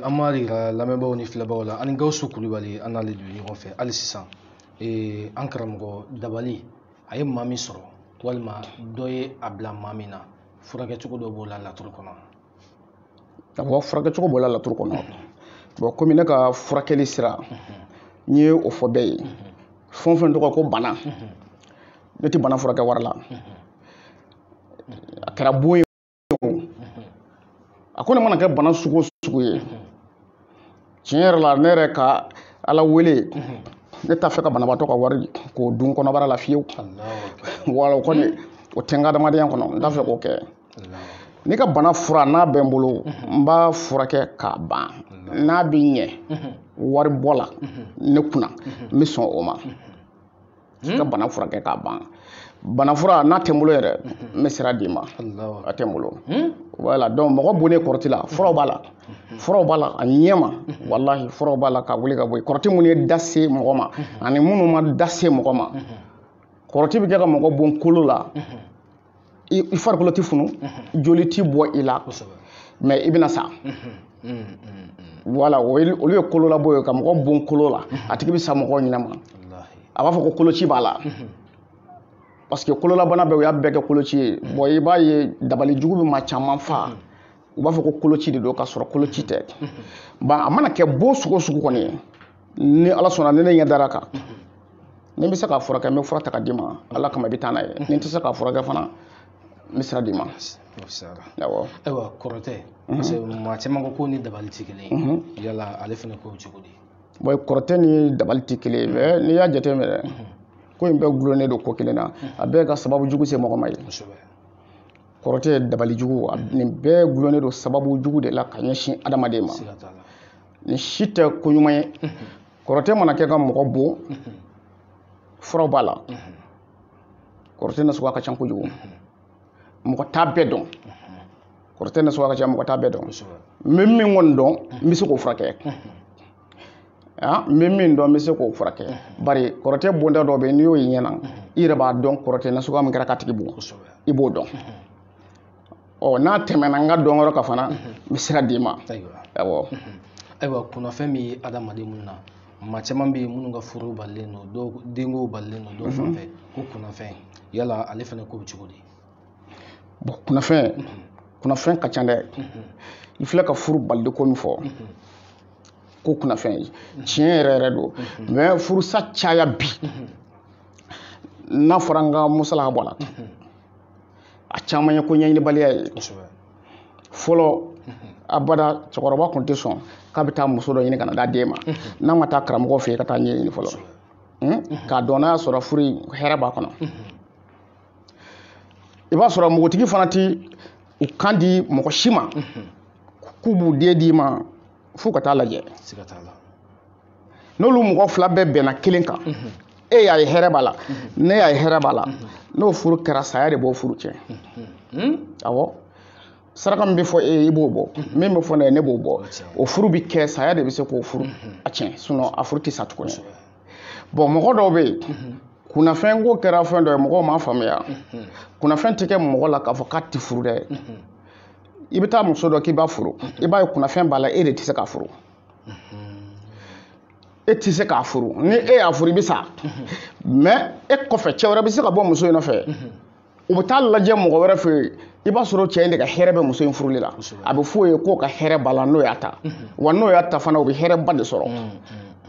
S1: an b'a jira lamɛnbaaw ni filɛbaaw la an ni gawusu kulubali an n'ale de bɛ ɲɔgɔn fɛ hali sisan an karamɔgɔ dabali a ye maa min sɔrɔ walima dɔ ye a bila maa min na furakɛcogo dɔ b'o la laturu kɔnɔ awɔ furakɛcogo b'o la laturu kɔnɔ bɔn komi ne ka furakɛli sira n ye o fɔ bɛɛ ye fɛn o fɛn tɔgɔ ko bana ne tɛ bana furakɛ wari la a kɛra bon ye a kɔni mana kɛ bana sugu o sugu ye tiɲɛ yɛrɛ la ne yɛrɛ ka ala wele ne t'a fɛ ka banabaatɔ ka wari k'o dun kɔnɔbara la fiyewu wala o kɔni o tɛ n ka adamadenya kɔnɔ n t'a fɛ k'o kɛ n'i ka bana fura n'a bɛ n bolo n b'a furakɛ k'a ban n'a bɛ ɲɛ wari bɔ la ne kunna n bɛ sɔn o ma i ka bana furakɛ k'a ban bana fura n'a tɛ n bolo yɛrɛ hmm. n bɛ sira d'i ma a tɛ n bolo hmm? wala donc mɔgɔ bonnen kɔrɔti la furaw b'a la furaw b'a la a ɲɛ ma walahi furaw b'a la ka wuli ka bɔ yen kɔrɔti minnu ye da se mɔgɔ ma ani minnu ma da se mɔgɔ ma kɔrɔti bɛ kɛ ka mɔgɔ bon kolo la i farikolo ti funu joli ti bɔ i la mɛ i bɛna sa wala olu ye kololabon ye ka mɔgɔ bon kolo la a tigi bɛ sa mɔgɔ ɲɛnama a b'a fɔ ko koloci b'a la parce que kololabana bɛɛ u y'a bɛɛ kɛ koloci ye bɔn i b'a ye dabali jugu bɛ maa caman faa u b'a fɔ ko koloci de don ka sɔrɔ koloci tɛ ban a mana kɛ bon sugu o sugu kɔni ye ni ala sɔnna ni ne ɲɛ dar'a kan ni n bɛ se k'a furakɛ n bɛ fura ta ka d'i ma ala kama i bɛ taa n'a ye ni n tɛ se k'a furakɛ fana n bɛ sira d'i ma awɔ ayiwa kɔrɔtɛ mhm. parce que maa caman ko ko ni dabali tɛ kelen ye mhm. yala ale fana ko cogo di bɔn kɔrɔtɛ ni dabali tɛ kelen ye mɛ n'i y'a jateminɛ dɛ mhm. ko in bɛɛ gulonnen don ko kelen na a bɛɛ ka sababu jugu se mɔgɔ ma ye kɔrɔtɛ dabali jugu nin bɛɛ gulonnen don sababu jugu de la ka ɲɛsin adamaden ma nin si tɛ ko ɲuman ye kɔrɔtɛ mana kɛ ka mɔgɔ bon furaw b'a la kɔrɔtɛ na suguya ka ca kojugu mɔgɔ t'a bɛɛ dɔn kɔrɔtɛ na suguya ka ca mɔgɔ t'a bɛɛ dɔn n bɛ min kɔni dɔn n bɛ se k'o furakɛ n bɛ min dɔn n bɛ se k'o furakɛ bari kɔrɔtɛ bonda dɔ bɛ yen n'i y'o y'i ɲɛ na i yɛrɛ b'a dɔn kɔrɔtɛ na suguya min kɛra k'a tigi bon i b'o dɔn ɔ n'a tɛmɛna n ka dɔnyɔrɔ kan fana n bɛ sira d'i ma awɔ ayiwa kunnafɛn min ye adamaden minnu na maa caman bɛ yen minnu ka furu balilen don dɔw denko balilen don dɔw fanfɛ ko kunnafɛn yala ale fana ko bɛ cogo di bɔn kunnafɛn kunnafɛn ka ca dɛ i filɛ ka furu balili ko min fɔ ko kunnafɛn ye tiɲɛ yɛrɛ yɛrɛ don mɛ furusa caya bi n'a fɔra n ka masala bɔ a la a caman ye ko ɲɛɲinibaliya ye fɔlɔ abada cɛkɔrɔba tun tɛ sɔn k'a bɛ taa muso dɔ ɲini ka na d'a den ma n'a ma taa karamɔgɔ fɛ yen ka taa ɲɛɲini fɔlɔ hmm? k'a dɔn n'a y'a sɔrɔ furu in hɛrɛ b'a kɔnɔ i b'a sɔrɔ npogotigi fana tɛ u kan di mɔgɔ si ma k'u b'u den d'i ma f'u ka taa lajɛ n'olu mɔgɔ fila bɛɛ bɛnna kelen kan e y'a ye hɛrɛ b'a la ne y'a ye hɛrɛ b'a la n'o furu kɛra saya de b'o furu tiɲɛ awɔ saraka min bɛ fɔ e ye i b'o bɔ min bɛ fɔ ne ye ne b'o bɔ o furu bɛ kɛ saya de bɛ se k'o furu tiɲɛ a furu tɛ sa tuguni bɔn mɔgɔ dɔw bɛ yen kunnafɛn ko kɛra fɛn dɔ ye mɔgɔw m'a faamuya kunnafɛn tɛ kɛ mɔgɔ la k'a fɔ k'a tɛ furu dɛ i bɛ taa muso dɔ k'i b'a furu i b'a ye kunnafɛn b'a la e de tɛ se k'a furu e tɛ se k'a furu ni e y'a furu i bɛ sa mɛ e kɔfɛ cɛ wɛrɛ bɛ se ka bɔ muso in nɔfɛ u bɛ taa lajɛ mɔgɔ wɛrɛ fɛ yen i b'a sɔrɔ cɛ in de ka hɛrɛ bɛ muso in furuli la a bɛ f'o ye k'o ka hɛrɛ b'a la n'o y'a ta wa n'o y'a ta fana o bɛ hɛrɛba de sɔrɔ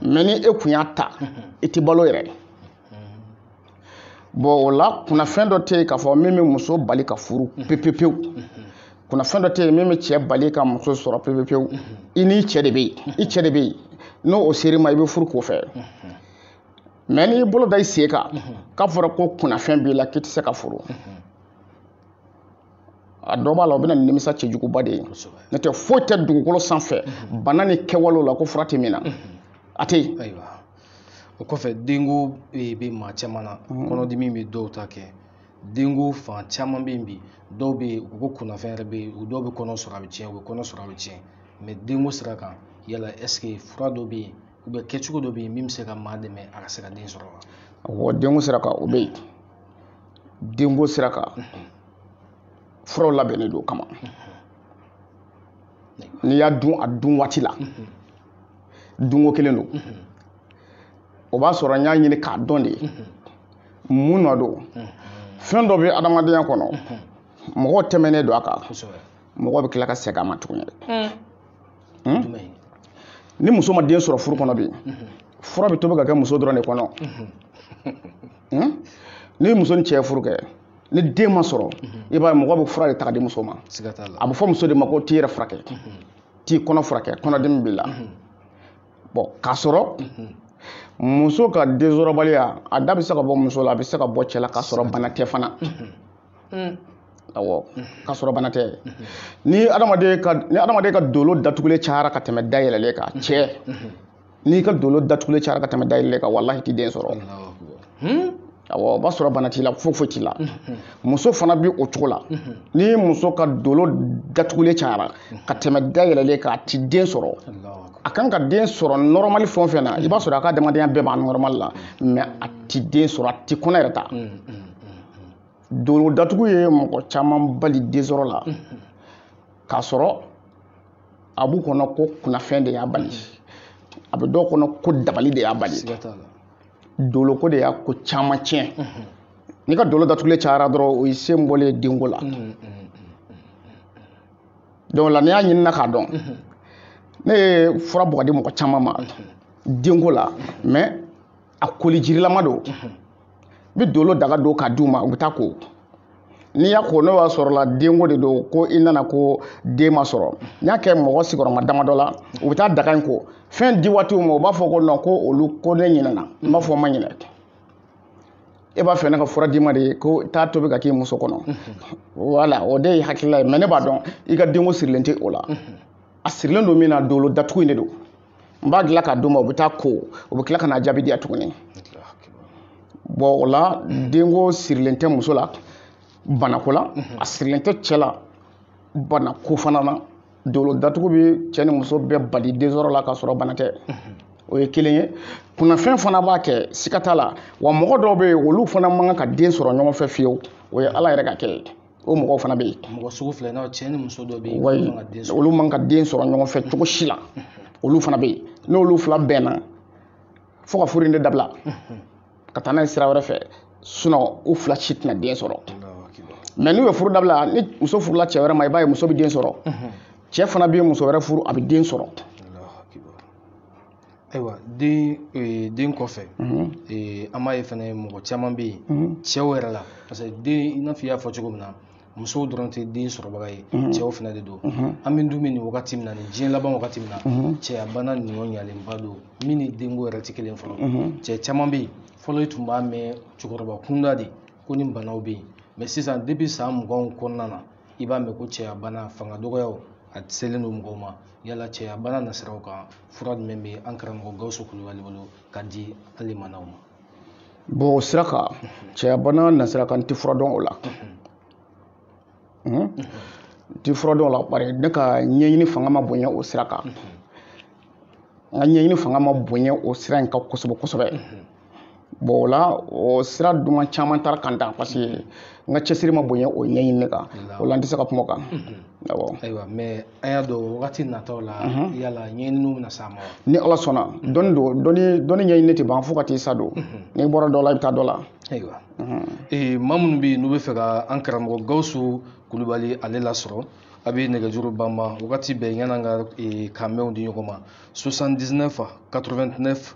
S1: mɛ ni e kun y'a ta i tɛ balo yɛrɛ bɔn o la kunnafɛn dɔ tɛ yen k'a fɔ min bɛ muso bali ka furu pepepewu kunnafɛn dɔ tɛ yen min bɛ cɛ bali ka muso sɔrɔ pepepewu i n'i cɛ de bɛ yen i cɛ de bɛ yen n'o sera i ma i bɛ furu k'o fɛ mɛ n'i bolo da i sen kan k'a fɔra ko kunnafɛn b'i la k'i tɛ se ka furu a dɔ b'a la o bɛ na ni nimisa cɛjuguba de ye n'o tɛ foyi tɛ dugukolo sanfɛ bana ni kɛwalew la ko fura tɛ min na a tɛ yen o kɔfɛ denko bɛ maa caman na mhm. kɔnɔdimi bɛ dɔw ta kɛ denko fan caman bɛ yen bi dɔw bɛ yen u ko kunnafɛn yɛrɛ bɛ yen u dɔw bɛ kɔnɔ sɔrɔ a bɛ tiɲɛ u bɛ kɔnɔ sɔrɔ a bɛ tiɲɛ mɛ denko sira kan yala ɛseke fura dɔ bɛ yen ou bien kɛcogo dɔ bɛ yen min bɛ se ka maa dɛmɛ a ka se ka den sɔrɔ wa awɔ denko sira kan o bɛ yen denko sira kan mhm. furaw labɛnnen don o kama mhm. n'i y'a dun a dun waati la dunko kelen don o b'a sɔrɔ n y'a ɲini k'a dɔn de mun nɔ don fɛn dɔ bɛ adamadenya kɔnɔ mɔgɔ tɛmɛnen don a kan mɔgɔ bɛ tila ka segin a ma tuguni hmm? ni muso ma den sɔrɔ furu kɔnɔ bi fura bɛ tobi ka kɛ muso dɔrɔn de kɔnɔ hmm? ni muso ni cɛ furu kɛ ni den ma sɔrɔ i b'a ye mɔgɔ bɛ fura de ta ka di muso ma a bɛ fɔ muso de ma ko t'i yɛrɛ furakɛ t'i kɔnɔ furakɛ kɔnɔdimi b'i la mhm. bɔn k'a sɔrɔ mhm. muso ka densɔrɔbaliya a da bɛ se ka bɔ muso la a bɛ se ka bɔ cɛ la k'a sɔrɔ bana tɛ fana mm. awɔ k'a sɔrɔ bana tɛ ni adamaden ka ni adamaden ka dolo datugulen cayara ka tɛmɛ dayɛlɛlen kan cɛ n'i ka dolo datugulen cayara ka tɛmɛ dayɛlɛ kan walahi i ti den sɔrɔ hmm? awɔ o b'a sɔrɔ bana t'i la foyi foyi t'i la hmm. muso fana bi o cogo la hmm. ni muso ka dolo datugulen cayara ka tɛmɛ dayɛlɛlen kan a ti den sɔrɔ a kan ka den sɔrɔ nɔrɔmali fɛn o fɛn na i b'a sɔrɔ a ka adamadenya bɛɛ b'a nɔrɔmali la mɛ a ti den sɔrɔ a ti kɔnɔ yɛrɛ ta dolo datugu ye mɔgɔ caman bali den sɔrɔ la k'a sɔrɔ a b'u kɔnɔ ko kunnafɛn de y'a bali a bɛ dɔw kɔnɔ ko dabali de y'a bali doloko de y'a ko caman tiɲɛ n'i ka dolo datugulen cayara dɔrɔn o y'i sen bɔlen ye denko la donc la n'i y'a ɲinina k'a dɔn ne ye fura bɔ ka di mɔgɔ caman ma denko la mais a koli jirilama don n bɛ dolo daga don k'a d'u ma u bɛ taa ko n'i y'a ko n'o y'a sɔrɔ i la denko de don ko i nana ko den ma sɔrɔ n y'a kɛ mɔgɔ sigiyɔrɔma damadɔ la u bɛ taa daga in ko fɛn di waatiw ma u b'a fɔ ko nɔn ko olu ko ne ɲinɛna n b'a fɔ n ma ɲinɛ e b'a fɛ ne ka fura d'i ma de ye ko taa tobi ka k'i muso kɔnɔ wala o de ye hakilila ye mɛ ne b'a dɔn i ka denko sirilen tɛ o la a sirilen don min na dolo datugu in de don n b'a dilan ka d'u ma u bɛ taa ko u bɛ tila ka na jaabi di yan tuguni bɔn o la denko sirilen tɛ muso la banako la a sirilen tɛ cɛ la banako fana na dolo datugu bɛ cɛ ni muso bɛɛ bali densɔrɔ la k'a sɔrɔ bana tɛ o ye kelen ye kunnafɛn fana b'a kɛ siga t'a la wa mɔgɔ dɔw bɛ yen olu fana man kan ka den sɔrɔ ɲɔgɔn fɛ fiyewu o ye ala yɛrɛ ka kɛ ye o mɔgɔw fana bɛ yen mɔgɔ sugu filanan cɛ ni muso dɔ bɛ yen wali olu man kan ka den sɔrɔ ɲɔgɔn fɛ cogo si la olu fana bɛ yen n'olu fila bɛnna fo ka furu in de dabila ka taa n'a ye sira wɛrɛ fɛ sinɔn u fila si tɛna den sɔrɔ mɛ n'u ye furu dabila ni muso furula cɛ wɛrɛ ma i b'a ye muso bɛ den sɔrɔ cɛ fana bɛ muso wɛrɛ furu a bɛ den sɔrɔ ayiwa den ee, den kɔfɛ Mhm. ee, an b'a ye fana mɔgɔ caman bɛ yen Mhm. cɛw yɛrɛ la parce que den i n'a fɔ i y'a fɔ cogo min na musow dɔrɔn tɛ den sɔrɔbaga ye cɛw fana de don Mhm. an bɛ dun bɛ nin wagati min na nin diɲɛ laban wagati min na Mhm. cɛyabana bonyalenba don min ni denko yɛrɛ tɛ kelen fɔlɔ Mhm. cɛ caman bɛ yen fɔlɔ i tun b'a mɛn cɛkɔrɔba kunda de ko nin banaw bɛ yen mɛ sisan depuis san muganw kɔnɔna na i b'a mɛn ko cɛyabana fanga dɔgɔyaw a selen don mɔgɔw ma yala cɛya bana nasiraw kan fura jumɛn bɛ an karamɔgɔ gawusu kulubali bolo ka di an lamɛnnaw ma bɔn o sira kan cɛya bana nasira kan n tɛ fura dɔn o la n tɛ fura dɔn o la bari ne ka ɲɛɲini fanga ma bonya o sira kan n ka ɲɛɲini fanga ma bonya o sira in kan kosɛbɛ kosɛbɛ bɔn o la o sira duman caman taara kan tan parce que n ka cɛsiri ma bonya o ɲɛɲini in kan o la n tɛ se ka kuma o kan awɔ ayiwa mɛ an y'a dɔn wagati nataw la yala ɲɛɲiniw bɛna s'a ma ni ala sɔnna dɔnni don dɔnni dɔnni ɲɛɲini tɛ ban fo ka t'i sa don n'i bɔra dɔ la i bɛ taa dɔ la ayiwa ee maa minnu bɛ yen n'u b'a fɛ ka an karamɔgɔ gawusu kulubali ale lasɔrɔ a bɛ nɛgɛjuru banban wagati bɛɛ yan'an ka k'an bɛn di ɲɔgɔn ma 79 89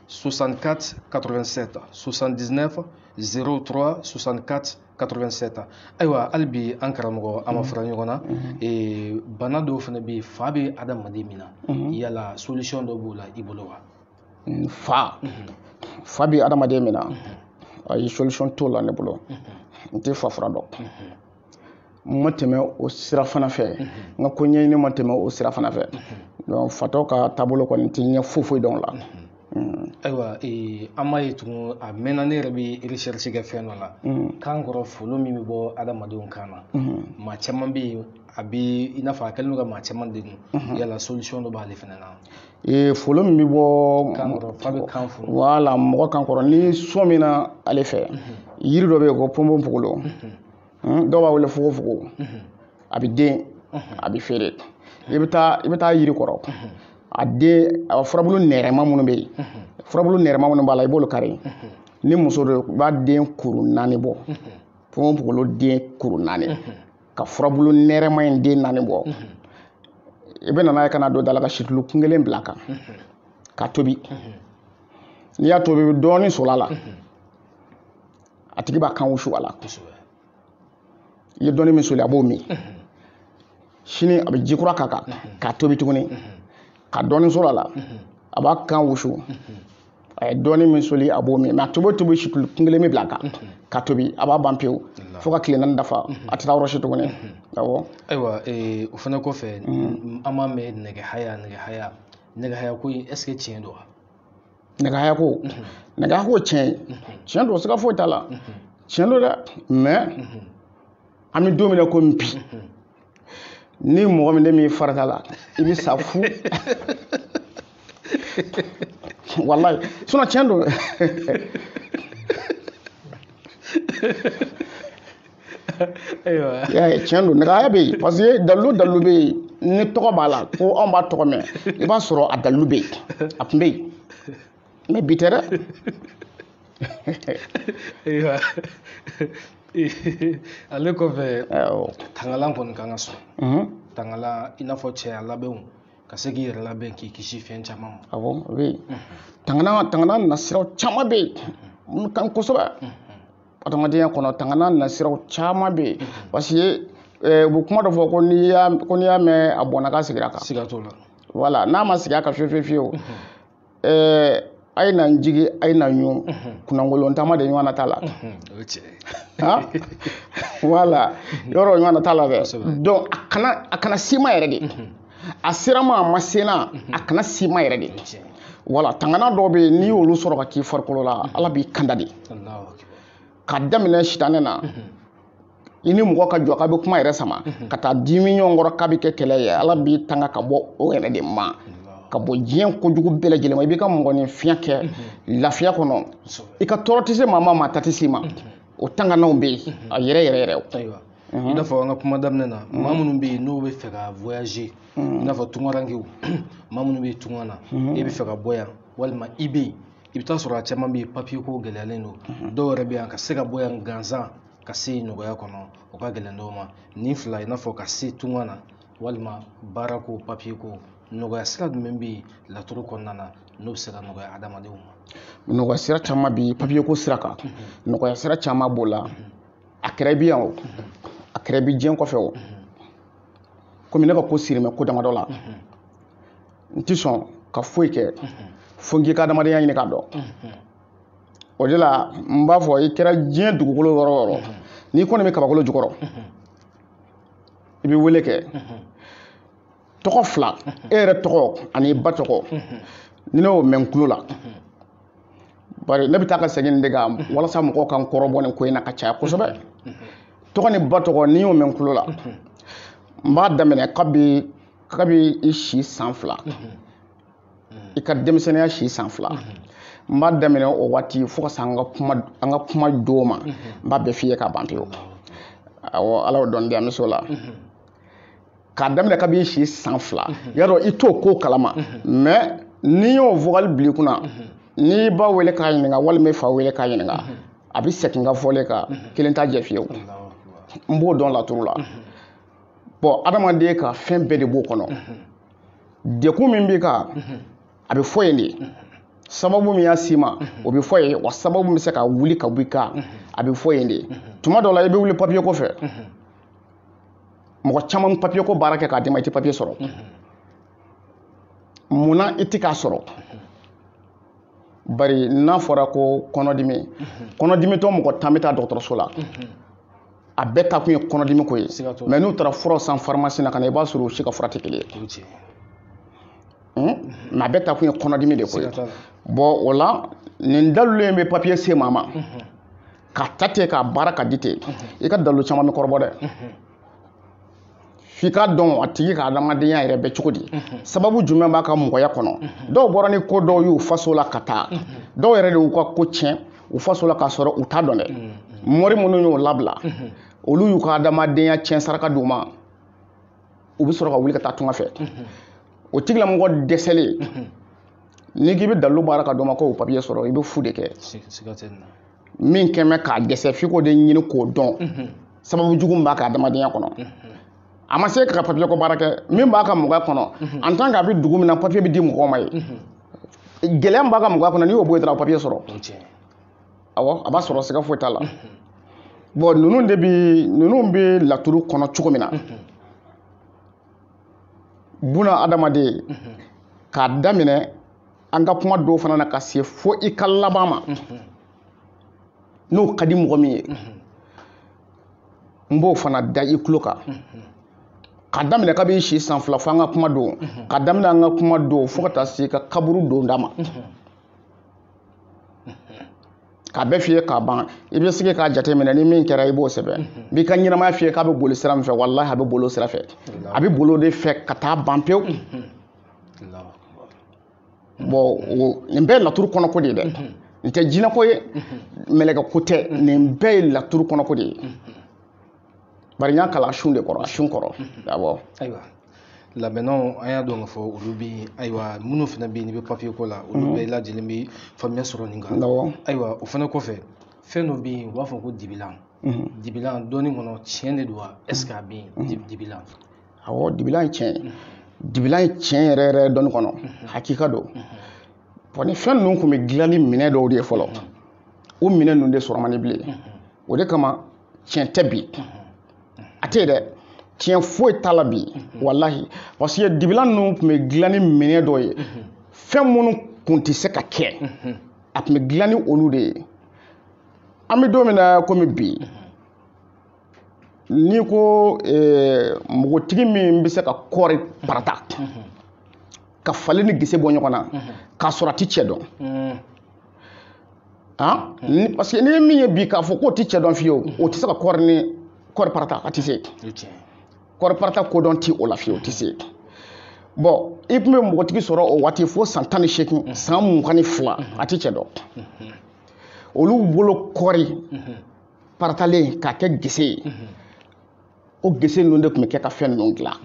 S1: 64 87 79 03 64 87 ayiwa hali bi an karamɔgɔ an ma fara ɲɔgɔn na bana dɔw fana bɛ yen fa bɛ adamaden min na yala solution dɔ b'o la i bolo wa fa fa bɛ adamaden min na ayi solution t'o la ne bolo n tɛ fa fura dɔn ma tɛmɛ o sira fana fɛ n ka ko ɲɛɲini ma tɛmɛ o sira fana fɛ donc fatɔ ka taabolo kɔni n tɛ ɲɛ foyi foyi dɔn o la ayiwa an m'a ye tugun a mɛnna ne yɛrɛ bɛ recherche kɛ fɛn dɔ la kan kɔrɔ folo min bɛ bɔ adamadenw kan na maa caman bɛ yen a bɛ i n'a fɔ a kɛlen don ka maa caman degun yala solution dɔ b'ale fana na folo min bɛ bɔ kan kɔrɔ fa bɛ kan folo wala mɔgɔ kan kɔrɔ n'i sɔmina ale fɛ yiri dɔ bɛ yen ko ponponpogolo Hmm, dɔw b'a wele fogofogo mhm. a bɛ den mhm. a bɛ feere i bɛ taa i bɛ taa yiri kɔrɔ mhm. a den a furabulu nɛrɛma minnu bɛ yen furabulu nɛrɛma minnu b'a la i b'olu kari ni muso don i b'a den kuru naani bɔ ponponpogolo den kuru naani ka furabulu nɛrɛma in den naani bɔ i bɛ na n'a ye ka n'a don daa la ka situlu kun kelen bila a kan ka tobi n'i y'a tobi dɔɔnin soli a la a tigi b'a kan wusu a la i ye dɔɔni min soli a b'o min sini a bɛ ji kura k'a kan k'a tobi tuguni ka dɔɔni soli a la a b'a kan wusu a ye dɔɔni min soli a b'o min mɛ a tobi o tobi situlu kun kelen bɛ bila a kan ka tobi a bɛ ban pewu fo ka tile naani dafa a tɛ taa yɔrɔ si tuguni awɔ ayiwa eh, o fana kɔfɛ mm. an b'a mɛn nɛgɛ haya nɛgɛ haya nɛgɛ haya ko in est ce que tiɲɛ don wa nɛgɛ haya ko nɛgɛ haya ko tiɲɛ tiɲɛ don siga foyi t'a la tiɲɛ don dɛ mɛ an bɛ don min na komi bi ni mɔgɔ min de bɛ farati a la i bɛ sa fu walayi sinɔn tiɲɛ don tiɲɛ don nɛgɛ haya bɛ yen parce que dalilu dalilu bɛ yen ni tɔgɔ b'a la ko anw b'a tɔgɔ mɛn i b'a sɔrɔ a dalilu bɛ yen a tun bɛ yen mɛ bi tɛ dɛ ale kɔfɛ tangalan kɔni kan ka sɔrɔ mhm. tangalan i n'a fɔ cɛya labɛnw ka se k'i yɛrɛ labɛn k'i kisi fɛn caman ma awɔ o bɛ yen mhm. tangalan tangalan nasiraw caman bɛ yen mhm. minnu ka ɲi kosɛbɛ adamadenya kɔnɔ tangana nasiraw caman bɛ yen parce que u bɛ kuma dɔ fɔ ko n'i y'a ko n'i y'a mɛn a bɔnna ka sigira kan siga t'o la wala n'a ma sigi a ka fiyewu fiyewu fiyewu ɛɛ a ye na n jigi a ye na n ɲun kunnankolon taama de ɲɔgɔnna t'a la o ye tiɲɛ ye han wala yɔrɔ ɲɔgɔnna t'a la dɛ Kosɛbɛ. donc a kana a kana se i ma yɛrɛ de a sera n ma a ma se n na mhm. a kana se i ma yɛrɛ de wala tangana dɔw bɛ n'i y'olu sɔrɔ k'a k'i farikolo la mhm. ala b'i kanda de k'a daminɛ sitanɛ na mhm. i ni mɔgɔ ka jɔ k'a bɛ kuma yɛrɛ sama ka taa dimi ɲɔgɔn kɔrɔ k'a bɛ kɛ kɛlɛ ye ala b'i tanga ka bɔ o yɛrɛ de ma ka bɔ diɲɛ kojugu bɛɛ lajɛlen ma i b'i ka mɔgɔninfinya kɛ lafiya kɔnɔ i ka tɔɔrɔ tɛ se maa ma maa ta tɛ se i ma o tangananw bɛ yen a yɛrɛ yɛrɛ yɛrɛ ayiwa i n'a fɔ an ka kuma daminɛ na maa minnu bɛ yen n'u bɛ fɛ ka voyager i n'a fɔ tungarankew maa minnu bɛ yen tunga na e bɛ fɛ ka bɔ yan walima i bɛ yen i bɛ taa sɔrɔ a caman bɛ yen papiye ko gɛlɛyalen don dɔw yɛrɛ bɛ yan ka se ka bɔ yan gansan ka se yen nɔgɔya kɔnɔ o ka gɛlɛn dɔw ma nin fila i n'a fɔ ka se tunga na walima baarako papiye ko nɔgɔya sira jumɛn bɛ yen laturu kɔnɔna na n'o bɛ se ka nɔgɔya adamadenw ma nɔgɔya sira caman bi papiye ko sira kan nɔgɔya sira caman b'o la a kɛra i bi yan o a kɛra i bi diɲɛ kɔfɛ o komi ne ka ko sirilen bɛ ko damadɔ la n ti sɔn ka foyi kɛ fo n k'i ka adamadenya ɲini ka dɔn o de la n b'a fɔ i kɛra diɲɛ dugukolo yɔrɔ o yɔrɔ n'i kɔni bɛ kabakolo jukɔrɔ i bɛ wele kɛ tɔgɔ fila e yɛrɛ tɔgɔ ani i ba tɔgɔ ni ne y'o mɛn n tulo la bari ne bɛ taa ka segin de kan walasa mɔgɔw ka n kɔrɔbɔ nin ko in na ka caya kosɛbɛ tɔgɔ ni ba tɔgɔ ni n y'o mɛn n tulo la n b'a daminɛ kabi kabi i si san fila i ka denmisɛnninya si san fila n b'a daminɛ o waati fo ka se an ka kuma an ka kuma don ma n b'a bɛɛ f'i ye ka ban pewu awɔ ala y'o dɔn di an bɛ s'o la k'a daminɛ kabi i si san fila mhm. y'a dɔn i t'o ko kalama mhm. mɛ n'i y'o vocal bil'i kunna mhm. n'i ba wele k'a ɲininka walima i fa wele k'a ɲininka a bɛ segin n ka fɔlen kan kelen t'a jɛ fiyewu n b'o dɔn laturu la bɔn adamaden ka fɛn bɛɛ de b'o kɔnɔ degun min b'i kan a bɛ fɔ yen de sababu min y'a s'i ma o bɛ fɔ yen wa sababu min bɛ se ka wuli ka b'i kan a bɛ fɔ yen de tuma dɔw la i bɛ wuli papiye ko fɛ mɔgɔ caman papiye ko baara kɛ k'a d'i ma i tɛ papiye sɔrɔ mun na i tɛ k'a sɔrɔ bari n'a fɔra ko kɔnɔdimi kɔnɔdimitɔ mɔgɔ tan bɛ taa dɔgɔtɔrɔso la a bɛɛ taa kun ye kɔnɔdimi ko ye mɛ n'u taara fura san farimasi na ka na i b'a sɔrɔ u si ka fura tɛ kelen ye mɛ a bɛɛ taa kun ye kɔnɔdimi de ko ye bɔn o la nin dalilu in bɛ papiye se maa ma k'a ta ten k'a baara k'a di ten i ka dalilu caman bɛ kɔrɔbɔ dɛ f'i k'a dɔn a tigi ka adamadenya yɛrɛ bɛ cogo di sababu jumɛn b'a ka mɔgɔya kɔnɔ dɔw bɔra ni ko dɔw y'u faso la ka taa dɔw yɛrɛ de y'u ka ko tiɲɛ u faso la k'a sɔrɔ u t'a dɔn dɛ mɔri minnu y'o labila olu y'u ka adamadenya tiɲɛ saraka d'u ma u bɛ sɔrɔ ka wuli ka taa tunga fɛ o tigilamɔgɔ dɛsɛlen n'i k'i bɛ dalilu baara k'a d'o ma ko o papiye sɔrɔ i bɛ fu de kɛ min kɛmɛ k'a dɛsɛ f'i k'o de ɲini k'o dɔn mhm. sababu jugu min b'a ka adamadenya kɔnɔ mhm. a ma se k'a ka papiye ko baara kɛ min b'a ka mɔgɔya kɔnɔ mhm. en tant k'a bɛ dugu min na papiye bɛ di mɔgɔ ma yen gɛlɛya min b'a ka mɔgɔya kɔnɔ n'i y'o bɔ yen dɔrɔn papiye sɔrɔ awɔ a b'a sɔrɔ siga foyi t'a la bɔn ninnu de bɛ ninnu bɛ laturu kɔnɔ cogo min na buna adamaden k'a daminɛ an ka kuma don fana na ka se fo i ka laban ma n'o ka di mɔgɔ min ye n b'o fana da i tulo kan ka daminɛ kabi i si san fila fo an ka kuma don ka daminɛ an ka kuma don fo ka taa se i ka kaburu donda ma k'a bɛɛ fiyɛ k'a ban i bɛ sigi k'a jateminɛ ni min kɛra i b'o sɛbɛn n b'i ka ɲɛnamaya fiyɛ k'a bɛ boli sira min fɛ walahi a bɛ boli o sira fɛ a bɛ boli o de fɛ ka taa ban pewu bɔn nin bɛɛ ye laturu kɔnɔko de ye dɛ mhm. nin tɛ jinɛko ye mhm. mɛlɛkɛko tɛ mhm. nin bɛɛ ye laturu kɔnɔko de ye bari n y'a kalan sun de kɔrɔ sun kɔrɔ awɔ ayiwa labɛnnaw an y'a dɔn k'a fɔ olu bɛ yen ayiwa minnu fana bɛ yen n'i bɛ papiye ko la olu bɛɛ lajɛlen bɛ faamuya sɔrɔ nin kan ayiwa o fana kɔfɛ fɛn dɔ bɛ yen u b'a fɔ ko dibilan dibilan dɔnni kɔnɔ tiɲɛ de don wa ɛseke a bɛ yen dibilan awɔ dibilan ye tiɲɛ ye dibilan ye tiɲɛ yɛrɛ yɛrɛ dɔnni kɔnɔ hakika don bɔn nin fɛn ninnu tun bɛ dilan ni minɛn dɔw de ye fɔlɔ o minɛn ninnu de sɔrɔ man di bilen o de kama tiɲɛ tɛ bi a tɛ yen dɛ tiɲɛ foyi t'a la bi walahi parce que dibilan ninnu tun bɛ dilan ni minɛn dɔ ye fɛn minnu tun tɛ se ka kɛ a tun bɛ dilan ni olu de ye an bɛ don min na komi bi n'i ko npogotigi min bɛ se ka kɔɔri parata ka falen ni gese bɔ ɲɔgɔn na k'a sɔrɔ a tɛ cɛ dɔn parce que n'i ye min ye bi k'a fɔ k'o tɛ cɛ dɔn fiyewu o tɛ se ka kɔɔri ni kɔɔri parata a tɛ se kɔɔri parata kodɔn tɛ o la fiyewu o tɛ se bɔn i tun bɛ npogotigi sɔrɔ o waati fo san tan ni seegin san mugan ni fila a tɛ cɛ dɔn olu bolo kɔɔri paratalen k'a kɛ gese ye o gese ninnu de tun bɛ kɛ ka fɛn ninnu dilan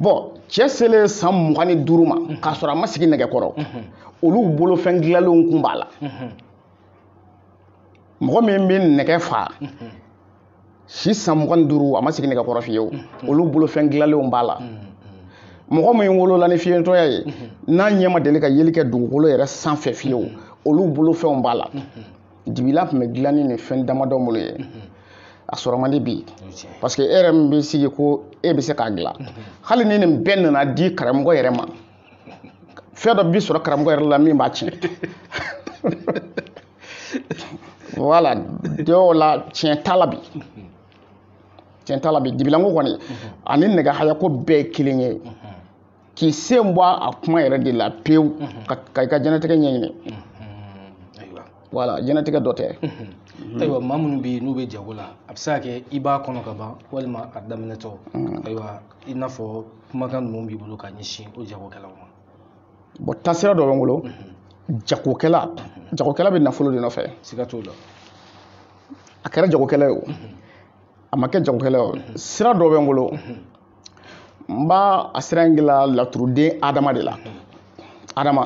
S1: bɔn cɛ selen san mugan ni duuru ma k'a sɔrɔ a ma sigi nɛgɛ kɔrɔ olu bolofɛn dilalenw kun b'a la mɔgɔ min bɛ nɛgɛ fa si san mugan ni duuru a ma sigi nɛgɛ kɔrɔ fiyewu mm-hmm. olu bolofɛn dilalenw b'a la mm-hmm. mɔgɔ min wolola ni fiyentɔya ye mm-hmm. n'a ɲɛ ma deli ka yeli kɛ dugukolo yɛrɛ sanfɛ fiyewu olu bolofɛnw b'a la dibilan tun bɛ dilan ni fɛn damadɔ minnu ye a sɔrɔ man di bi parce que e yɛrɛ min bɛ sigi ko e bɛ se k'a dilan hali ni nin bɛɛ nana di karamɔgɔ yɛrɛ ma fɛn dɔ bɛ sɔrɔ karamɔgɔ yɛrɛ la min b'a tiɲɛ voilà dɔw la tiɲɛ t'a la bi tiɲɛ t'a la bi dibilanko kɔni ani nɛgɛ hayako bɛɛ ye kelen ye k'i sen bɔ a kuma yɛrɛ de la pewu ka i ka jɛnatigɛ ɲɛɲini voilà jɛnatigɛ dɔ tɛ ayiwa maa minnu bɛ yen n'u bɛ jago la a bɛ se ka kɛ i b'a kɔnɔ ka ban walima a daminɛtɔ ayiwa i n'a fɔ kumakan jumɛn b'i bolo ka ɲɛsin o jagokɛlaw ma bɔn taasira dɔ bɛ n bolo jagokɛla jagokɛla bɛ nafolo de nɔfɛ siga t'o la a kɛra jagokɛla ye o a ma kɛ jagokɛla ye o sira dɔ bɛ n bolo n b'a a sira in gila laturuden adama de la adama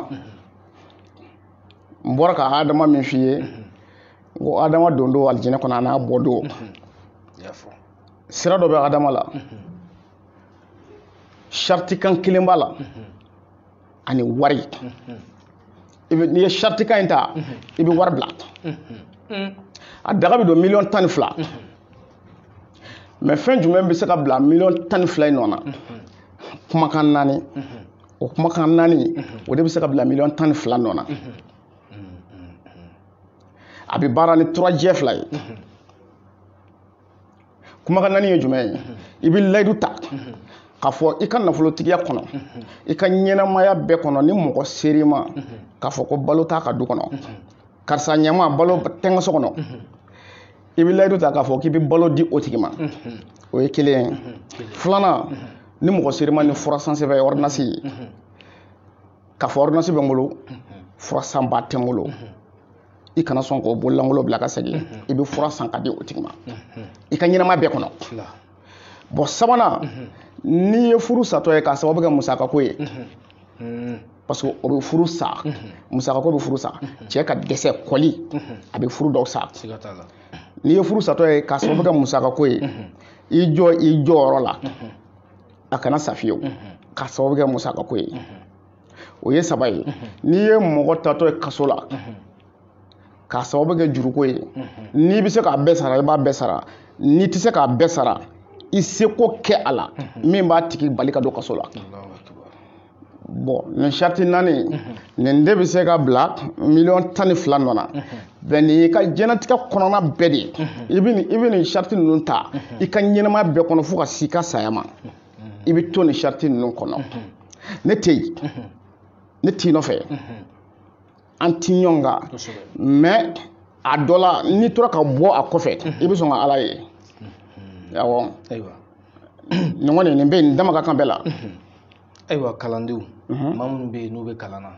S1: n b'a la ka adama min f'i ye ko adama don don alijinɛ kɔnɔ a n'a bɔ don sira dɔ bɛ adama la saratikan kelen b'a la ani wari i bɛ n'i ye saratikan in ta i bɛ wari bila a daga bɛ don miliyɔn tan ni fila mɛ fɛn jumɛn bɛ se ka bila miliyɔn tan ni fila in nɔ na kumakan naani o kumakan naani o de bɛ se ka bila miliyɔn tan ni fila nɔ na a bɛ baara ni turajɛ fila ye kumakan naani ye jumɛn ye i bɛ layidu ta k'a fɔ i ka nafolotigiya kɔnɔ i ka ɲɛnamaya bɛɛ kɔnɔ ni mɔgɔ ser'i ma k'a fɔ ko balo t'a ka du kɔnɔ karisa ɲɛ n ma balo tɛ n ka so kɔnɔ i bɛ layidu ta k'a fɔ k'i bɛ balo di o tigi ma o ye kelen ye filanan ni mɔgɔ ser'i ma ni fura sansɛbɛn ye ordonnance ye k'a fɔ ordonnance bɛ n bolo fura sanbaa tɛ n bolo i kana sɔn k'o bololankolon bila ka segin i bɛ fura san k'a di o tigi ma i ka ɲɛnamaya bɛɛ kɔnɔ bɔn sabanan n'i ye furu satɔ ye k'a sababu kɛ musakako ye parce que o bɛ furu sa musakako bɛ furu sa cɛ ka dɛsɛ kɔli a bɛ furu dɔw sa n'i ye furu satɔ ye k'a sababu kɛ musakako ye i jɔ i jɔyɔrɔ la a kana sa fiyewu k'a sababu kɛ musakako ye o ye saba ye n'i ye mɔgɔ taatɔ ye kaso la k'a sababu kɛ juruko ye n'i bɛ se k'a bɛɛ sara i b'a bɛɛ sara n'i tɛ se k'a bɛɛ sara i seko kɛ a la min b'a tigi bali ka don kaso la bɔn nin sariti naani nin de bɛ se ka bila miliyɔn tan ni fila nɔ na bɛɛ n'i ka diɲɛlatigɛ kɔnɔna bɛɛ de i bɛ nin i bɛ nin sariti ninnu ta i ka ɲɛnamaya bɛɛ kɔnɔ fo ka s'i ka saya ma i bɛ to nin sariti ninnu kɔnɔ ne tɛ yen ne t'i nɔfɛ an ti ɲɔgɔn kan mɛ a dɔ la n'i tora ka bɔ a kɔfɛ i bɛ sɔn ka ala ye awɔ nin kɔni nin bɛ nin dama ka kan bɛɛ la ayiwa kalandenw maa minnu bɛ yen n'u bɛ kalan na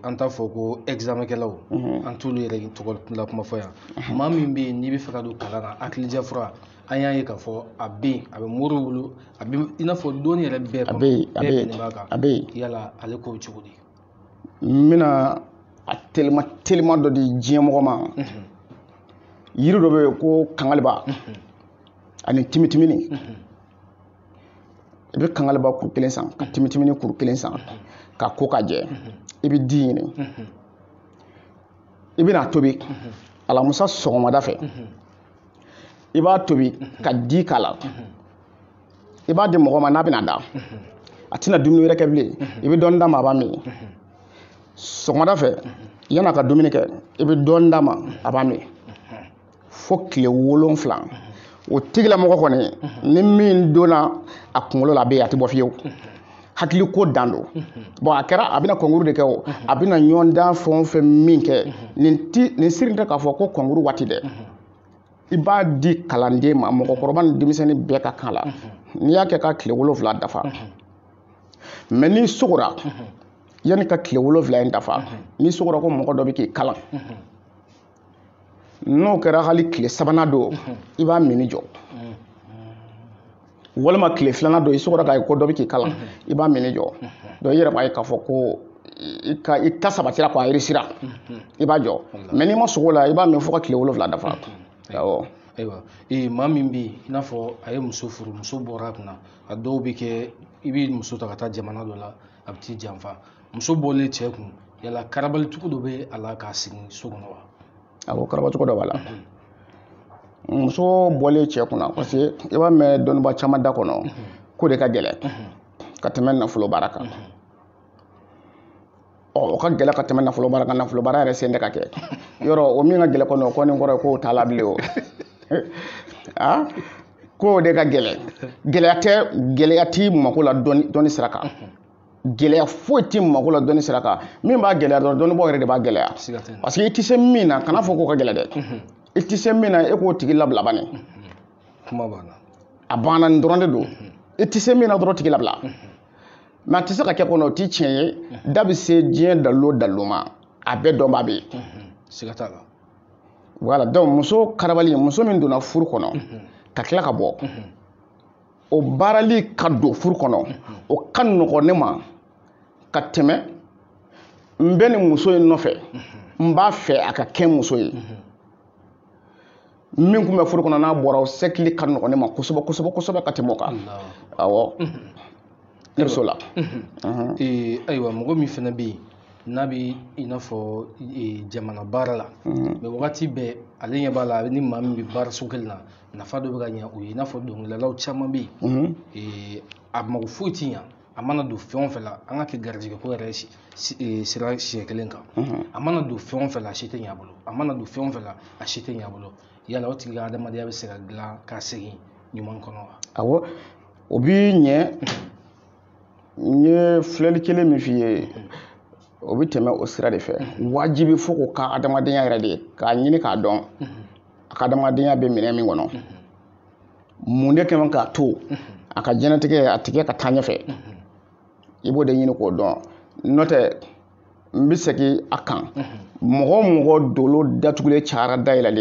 S1: an t'a fɔ ko ɛgizamɛkɛlaw an t'olu yɛrɛ tɔgɔ la kuma fɔ yan maa min bɛ yen n'i bɛ fɛ ka don kalan na hakilidiya fura an y'a ye k'a fɔ a bɛ yen a bɛ moriw bolo a bɛ i n'a fɔ dɔnni yɛrɛ bɛɛ kɔnɔ bɛɛ bɛnnen b'a kan yala ale ko bɛ cogo di n bɛna a telima telima dɔ di diɲɛ mɔgɔ ma yiri dɔ bɛ yen ko kangaliba ani timitimini i bɛ kangaliba kuru kelen san ka timitimini kuru kelen san k'a ko ka jɛ i bɛ di ɲini i bɛna tobi alamusa sɔgɔmada fɛ i b'a tobi ka di k'a la i b'a di mɔgɔ ma n'a bɛna da a tɛna dumuni wɛrɛ kɛ bilen i bɛ dɔɔni d'a ma a b'a min sɔgɔmada fɛ yan'a ka dumuni kɛ i bɛ dɔɔni d'a ma a b'a min fo tile wolonfila o tigilamɔgɔ kɔni ni min donna a kunkolo la a bɛ yen a tɛ bɔ fiyewu hakili ko dan don bɔn a kɛra a bɛna kɔnkuru de kɛ o a bɛna ɲɔgɔndan fɛn o fɛn min kɛ nin ti nin sirilen tɛ k'a fɔ ko kɔnkuru waati dɛ i b'a di kalanden ma mɔgɔkɔrɔba ni denmisɛnnin bɛɛ ka kan la n'i y'a kɛ ka tile wolonwula dafa mɛ n'i sugora yann'i ka tile wolonwula in dafa n'i sugora ko mɔgɔ dɔ bɛ k'i kalan n'o kɛra hali tile sabanan don i b'a minni jɔ walima tile filanan don i sugora k'a ye ko dɔ bɛ k'i kalan i b'a minni jɔ dɔn i yɛrɛ b'a ye k'a fɔ ko i ka i ta sabatira k'a yirisira i b'a jɔ mɛ n'i ma sugo a la i b'a min fo ka tile wolonwula dafa awɔ ayiwa ee maa min bɛ yen i n'a fɔ a ye muso furu muso bɔra a kunna a dɔw bɛ kɛ i bɛ muso ta ka taa jamana dɔ la a bɛ t'i janfa muso bɔlen cɛ kun yala karabali cogo dɔ bɛ a la k'a sigi so kɔnɔ wa awɔ karaba cogo dɔ b'a la muso bɔlen cɛ kunna parce que i b'a mɛn dɔnniba caman da kɔnɔ k'o de ka gɛlɛn ka tɛmɛ nafolo baara kan ɔ o ka gɛlɛn ka tɛmɛ nafolo baara kan nafolo baara yɛrɛ sen tɛ ka kɛ yɔrɔ o min ka gɛlɛn kɔnɔ o kɔni kɔrɔ ye k'o t'a la bilen o a k'o de ka gɛlɛn gɛlɛya tɛ gɛlɛya t'i mako la dɔnni sira kan gɛlɛya foyi tɛ mako la dɔnni sira kan min b'a gɛlɛya dɔrɔn dɔnnibaa yɛrɛ de b'a gɛlɛya parce que i tɛ se min na kan'a fɔ k'o ka gɛlɛn dɛ mhm. i tɛ se min na e k'o tigi labila bani mhm. kuma banna a banna nin dɔrɔn de don mhm. i tɛ se min na dɔrɔn tigi labila mɛ a tɛ se ka kɛ kɔnɔ o tɛ tiɲɛ ye da bɛ se diɲɛ dalilu o dalilu ma a bɛɛ dɔnbaa bɛ yen siga t'a la wala donc muso karabali muso min donna furu kɔnɔ ka tila ka bɔ o baarali ka don furu kɔnɔ o ka nɔgɔn ne ma ka tɛmɛ n bɛ nin muso in nɔfɛ n b'a fɛ a ka kɛ muso ye min tun bɛ furu kɔnɔ n'a bɔra o seginli ka nɔgɔn ne ma kosɛbɛ kosɛbɛ kosɛbɛ ka tɛmɛ o kan awɔ ne bɛ so la ayiwa mɔgɔ min fana bɛ yen n'a bɛ i n'a fɔ jamana baara la mɛ wagati bɛɛ ale ɲɛ b'a la a bɛ ni maa min bɛ baaraso kelen na nafa dɔ bɛ ka ɲɛ o ye i n'a fɔ dɔnkilidalaw caman bɛ yen ee, a mago foyi ti ɲɛ a mana don fɛn o fɛn la an k'a kɛ garijɛgɛko yɛrɛ si- si- ee, sira siɲɛ kelen kan a mana don fɛn o fɛn la a si tɛ ɲɛ a bolo a mana don fɛn o fɛn la a si tɛ ɲɛ a bolo yala o tigi ka adamadenya bɛ se ka dilan ka segin ɲuman kɔnɔ wa awɔ o bi ɲɛ n ye filɛli kelen min f'i ye o bɛ tɛmɛ o sira de fɛ wajibi fo k'o ka adamadenya yɛrɛ de k'a ɲini k'a dɔn a ka adamadenya bɛ min ni min kɔnɔ mun de kɛ a ma k'a to a ka diɲɛnatigɛ a tɛ kɛ ka taa ɲɛfɛ i b'o de ɲini k'o dɔn n'o tɛ n bɛ segin a kan mɔgɔ mɔgɔ dolo datugulen cayara dayɛlɛlen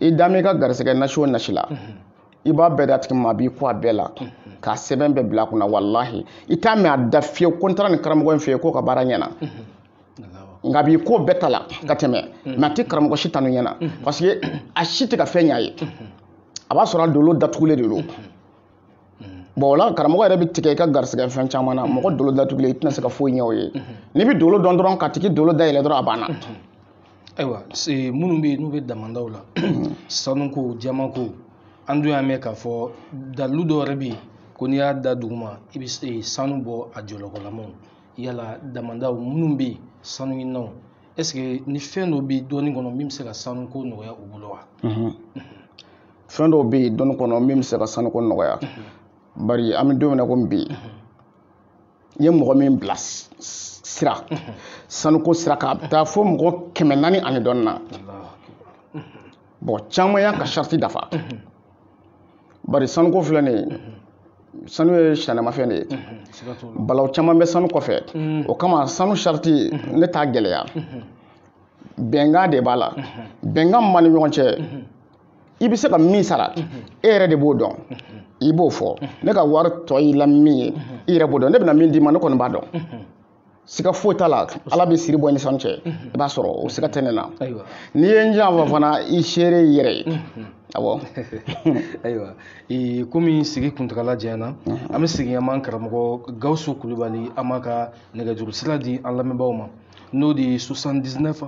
S1: ye i da ka garisɛgɛ nasi o nasi la i b'a bɛɛ d'a tigi ma a b'i ko a bɛɛ la k'a sɛbɛn bɛɛ bila a kunna walahi i t'a mɛn a da fiyewu ko n taara nin karamɔgɔ in fɛ yen k'o ka baara ɲɛna nka b'i ko bɛɛ ta la ka tɛmɛ mɛ a tɛ karamɔgɔ si tanu ɲɛna parce que a si tɛ ka fɛn ɲ'a ye a b'a sɔrɔ a dolo datugulen de don Mm. bɔn o la karamɔgɔ yɛrɛ bɛ tigɛ i ka garisɛgɛ fɛn caman na mɔgɔ dolo datugulen i tɛna se ka foyi ɲɛ o ye mm-hmm. n'i bɛ dolo dɔn dɔrɔn k'a tigi dolo dayɛlɛ dɔrɔn a banna mm-hmm. ayiwa minnu bɛ yen n'u bɛ damandaw la mm-hmm. sanuko jamanko an dun y'a mɛn k'a fɔ dalilu dɔ yɛrɛ bɛ yen ko n'i y'a da duguma i bɛ sanu bɔ a jɔlɔkɔlamaw yala damandaw minnu bɛ yen sanu ɲininaw ɛseke ni fɛn dɔ bɛ dɔnni kɔnɔ min bɛ se ka sanuko nɔgɔya u bolo wa fɛn dɔw bɛ yen dɔnni kɔnɔ min bɛ se ka sanuko nɔgɔya bari an bɛ don min na komi bi n ye mɔgɔ min bila sira sanuko sira kan a bɛ taa fo mɔgɔ kɛmɛ naani ani dɔɔnin na mɔgɔ caman y'a ka sarati dafa bari sanuko filɛ nin ye sanu ye sitanɛmafɛn de ye balaw caman bɛ sanu kɔfɛ o kama sanu sarati ne t'a gɛlɛya bɛnkan de b'a la bɛnkan min b'an ni ɲɔgɔn cɛ i bɛ se ka min sara e yɛrɛ de b'o dɔn i b'o fɔ ne ka wari tɔ y'i la min ye i yɛrɛ b'o dɔn ne bɛna min d'i ma ne kɔni b'a dɔn siga foyi t'a la ala bɛ siri bɔ nisɔn cɛ i b'a sɔrɔ o siga tɛ ne na n'i ye n janfa fana i seere i yɛrɛ ye awɔ ayiwa komi sigi kuntagala janyana an bɛ segin an b'an karamɔgɔ gawusu kulubali an b'a ka nɛgɛjuru sira di an lamɛnbaaw ma n'o de ye 79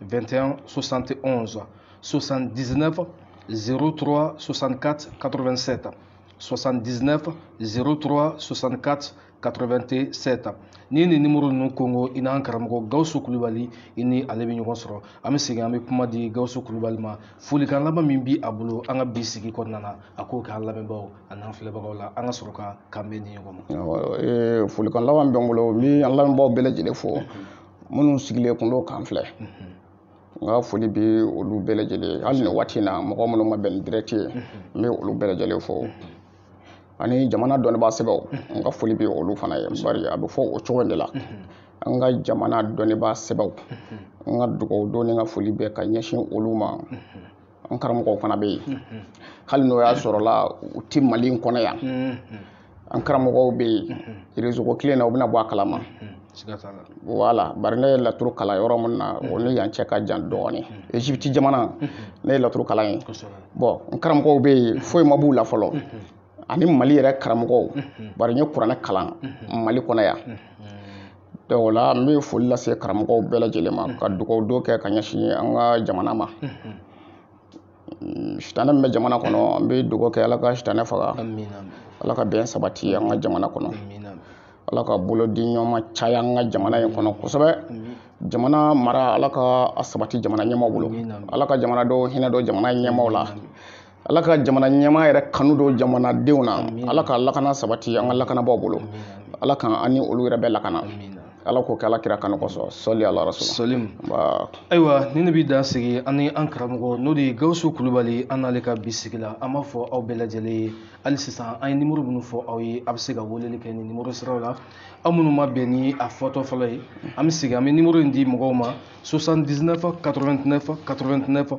S1: 21 71 79 03 64 87 79 03 64 87 ni ni nimoro ninnu kongo i n'an karamɔgɔ gawusu kulubali i ni ale bɛ ɲɔgɔn sɔrɔ an bɛ segin an bɛ kuma di gawusu kulubali ma folikan laban min bɛ a bolo an ka bi sigi kɔnɔna na a k'o k'an lamɛnbaaw an'an filɛbagaw la an ka sɔrɔ ka kanbɛn di ɲɔgɔn ma folikan laban bɛ n bolo n bɛ an lamɛnbaaw bɛɛ lajɛlen fo minnu sigilen kun don ka n filɛ n ka foli bɛ olu bɛɛ lajɛlen ye hali ni waati in na mɔgɔ minnu ma bɛn ni direct ye n bɛ olu bɛɛ lajɛlen fo ani jamana dɔnnibaa sɛbɛw n ka foli bɛ olu fana ye bari a bɛ fɔ o cogo de la an ka jamana dɔnnibaa sɛbɛw n ka dugawu don ni n ka foli bɛ ka ɲɛsin olu ma n karamɔgɔw fana bɛ yen mm-hmm. hali n'o y'a sɔrɔla u tɛ mali in kɔnɔ yan mm-hmm. n karamɔgɔw bɛ yen mm-hmm. réseau ko kelen na u bɛna bɔ a kalama wala bari ne ye laturu kalan yɔrɔ min na o ni yan cɛ ka jan dɔɔnin egypte jamana ne ye laturu kalan yen bon n karamɔgɔw bɛ yen foyi ma b'u la fɔlɔ ani mali yɛrɛ karamɔgɔw bari n ye kuranɛ kalan mali kɔnɔ yan donc o la n bɛ foli lase karamɔgɔw bɛɛ lajɛlen ma ka dugawu don kɛ ka ɲɛsin an ka jamana ma sitanɛ min bɛ jamana kɔnɔ an bɛ dugawu kɛ ala ka sitanɛ faga ala ka bɛn sabati an ka jamana kɔnɔ ala ka bolo di ɲɔgɔn caya an ka jamana in kɔnɔ kosɛbɛ jamana mara ala ka a sabati jamana ɲɛmaaw bolo ala ka jamanadenw hinɛ don jamana ɲɛmaaw la ala ka jamana ɲɛmaa yɛrɛ kanu don jamanadenw na ala ka lakana sabati an ka lakanabaaw bolo ala ka an ni olu yɛrɛ bɛɛ lakana ala k'o kɛ ala kira kanu kɔsɔn sɔli ala sɔlim ayiwa nin de bɛ dan sigi an ni an karamɔgɔ n'o de ye gawusu kulubali an n'ale ka bi sigi la an b'a fɔ aw bɛɛ lajɛlen ye hali sisan an ye nimoro minnu fɔ aw ye a bɛ se ka weleli kɛ ni nimoro siraw la aw minnu ma bɛn ni a fɔtɔ fɔlɔ ye an bɛ segin an bɛ nimoro in di mɔgɔw ma 79 89 89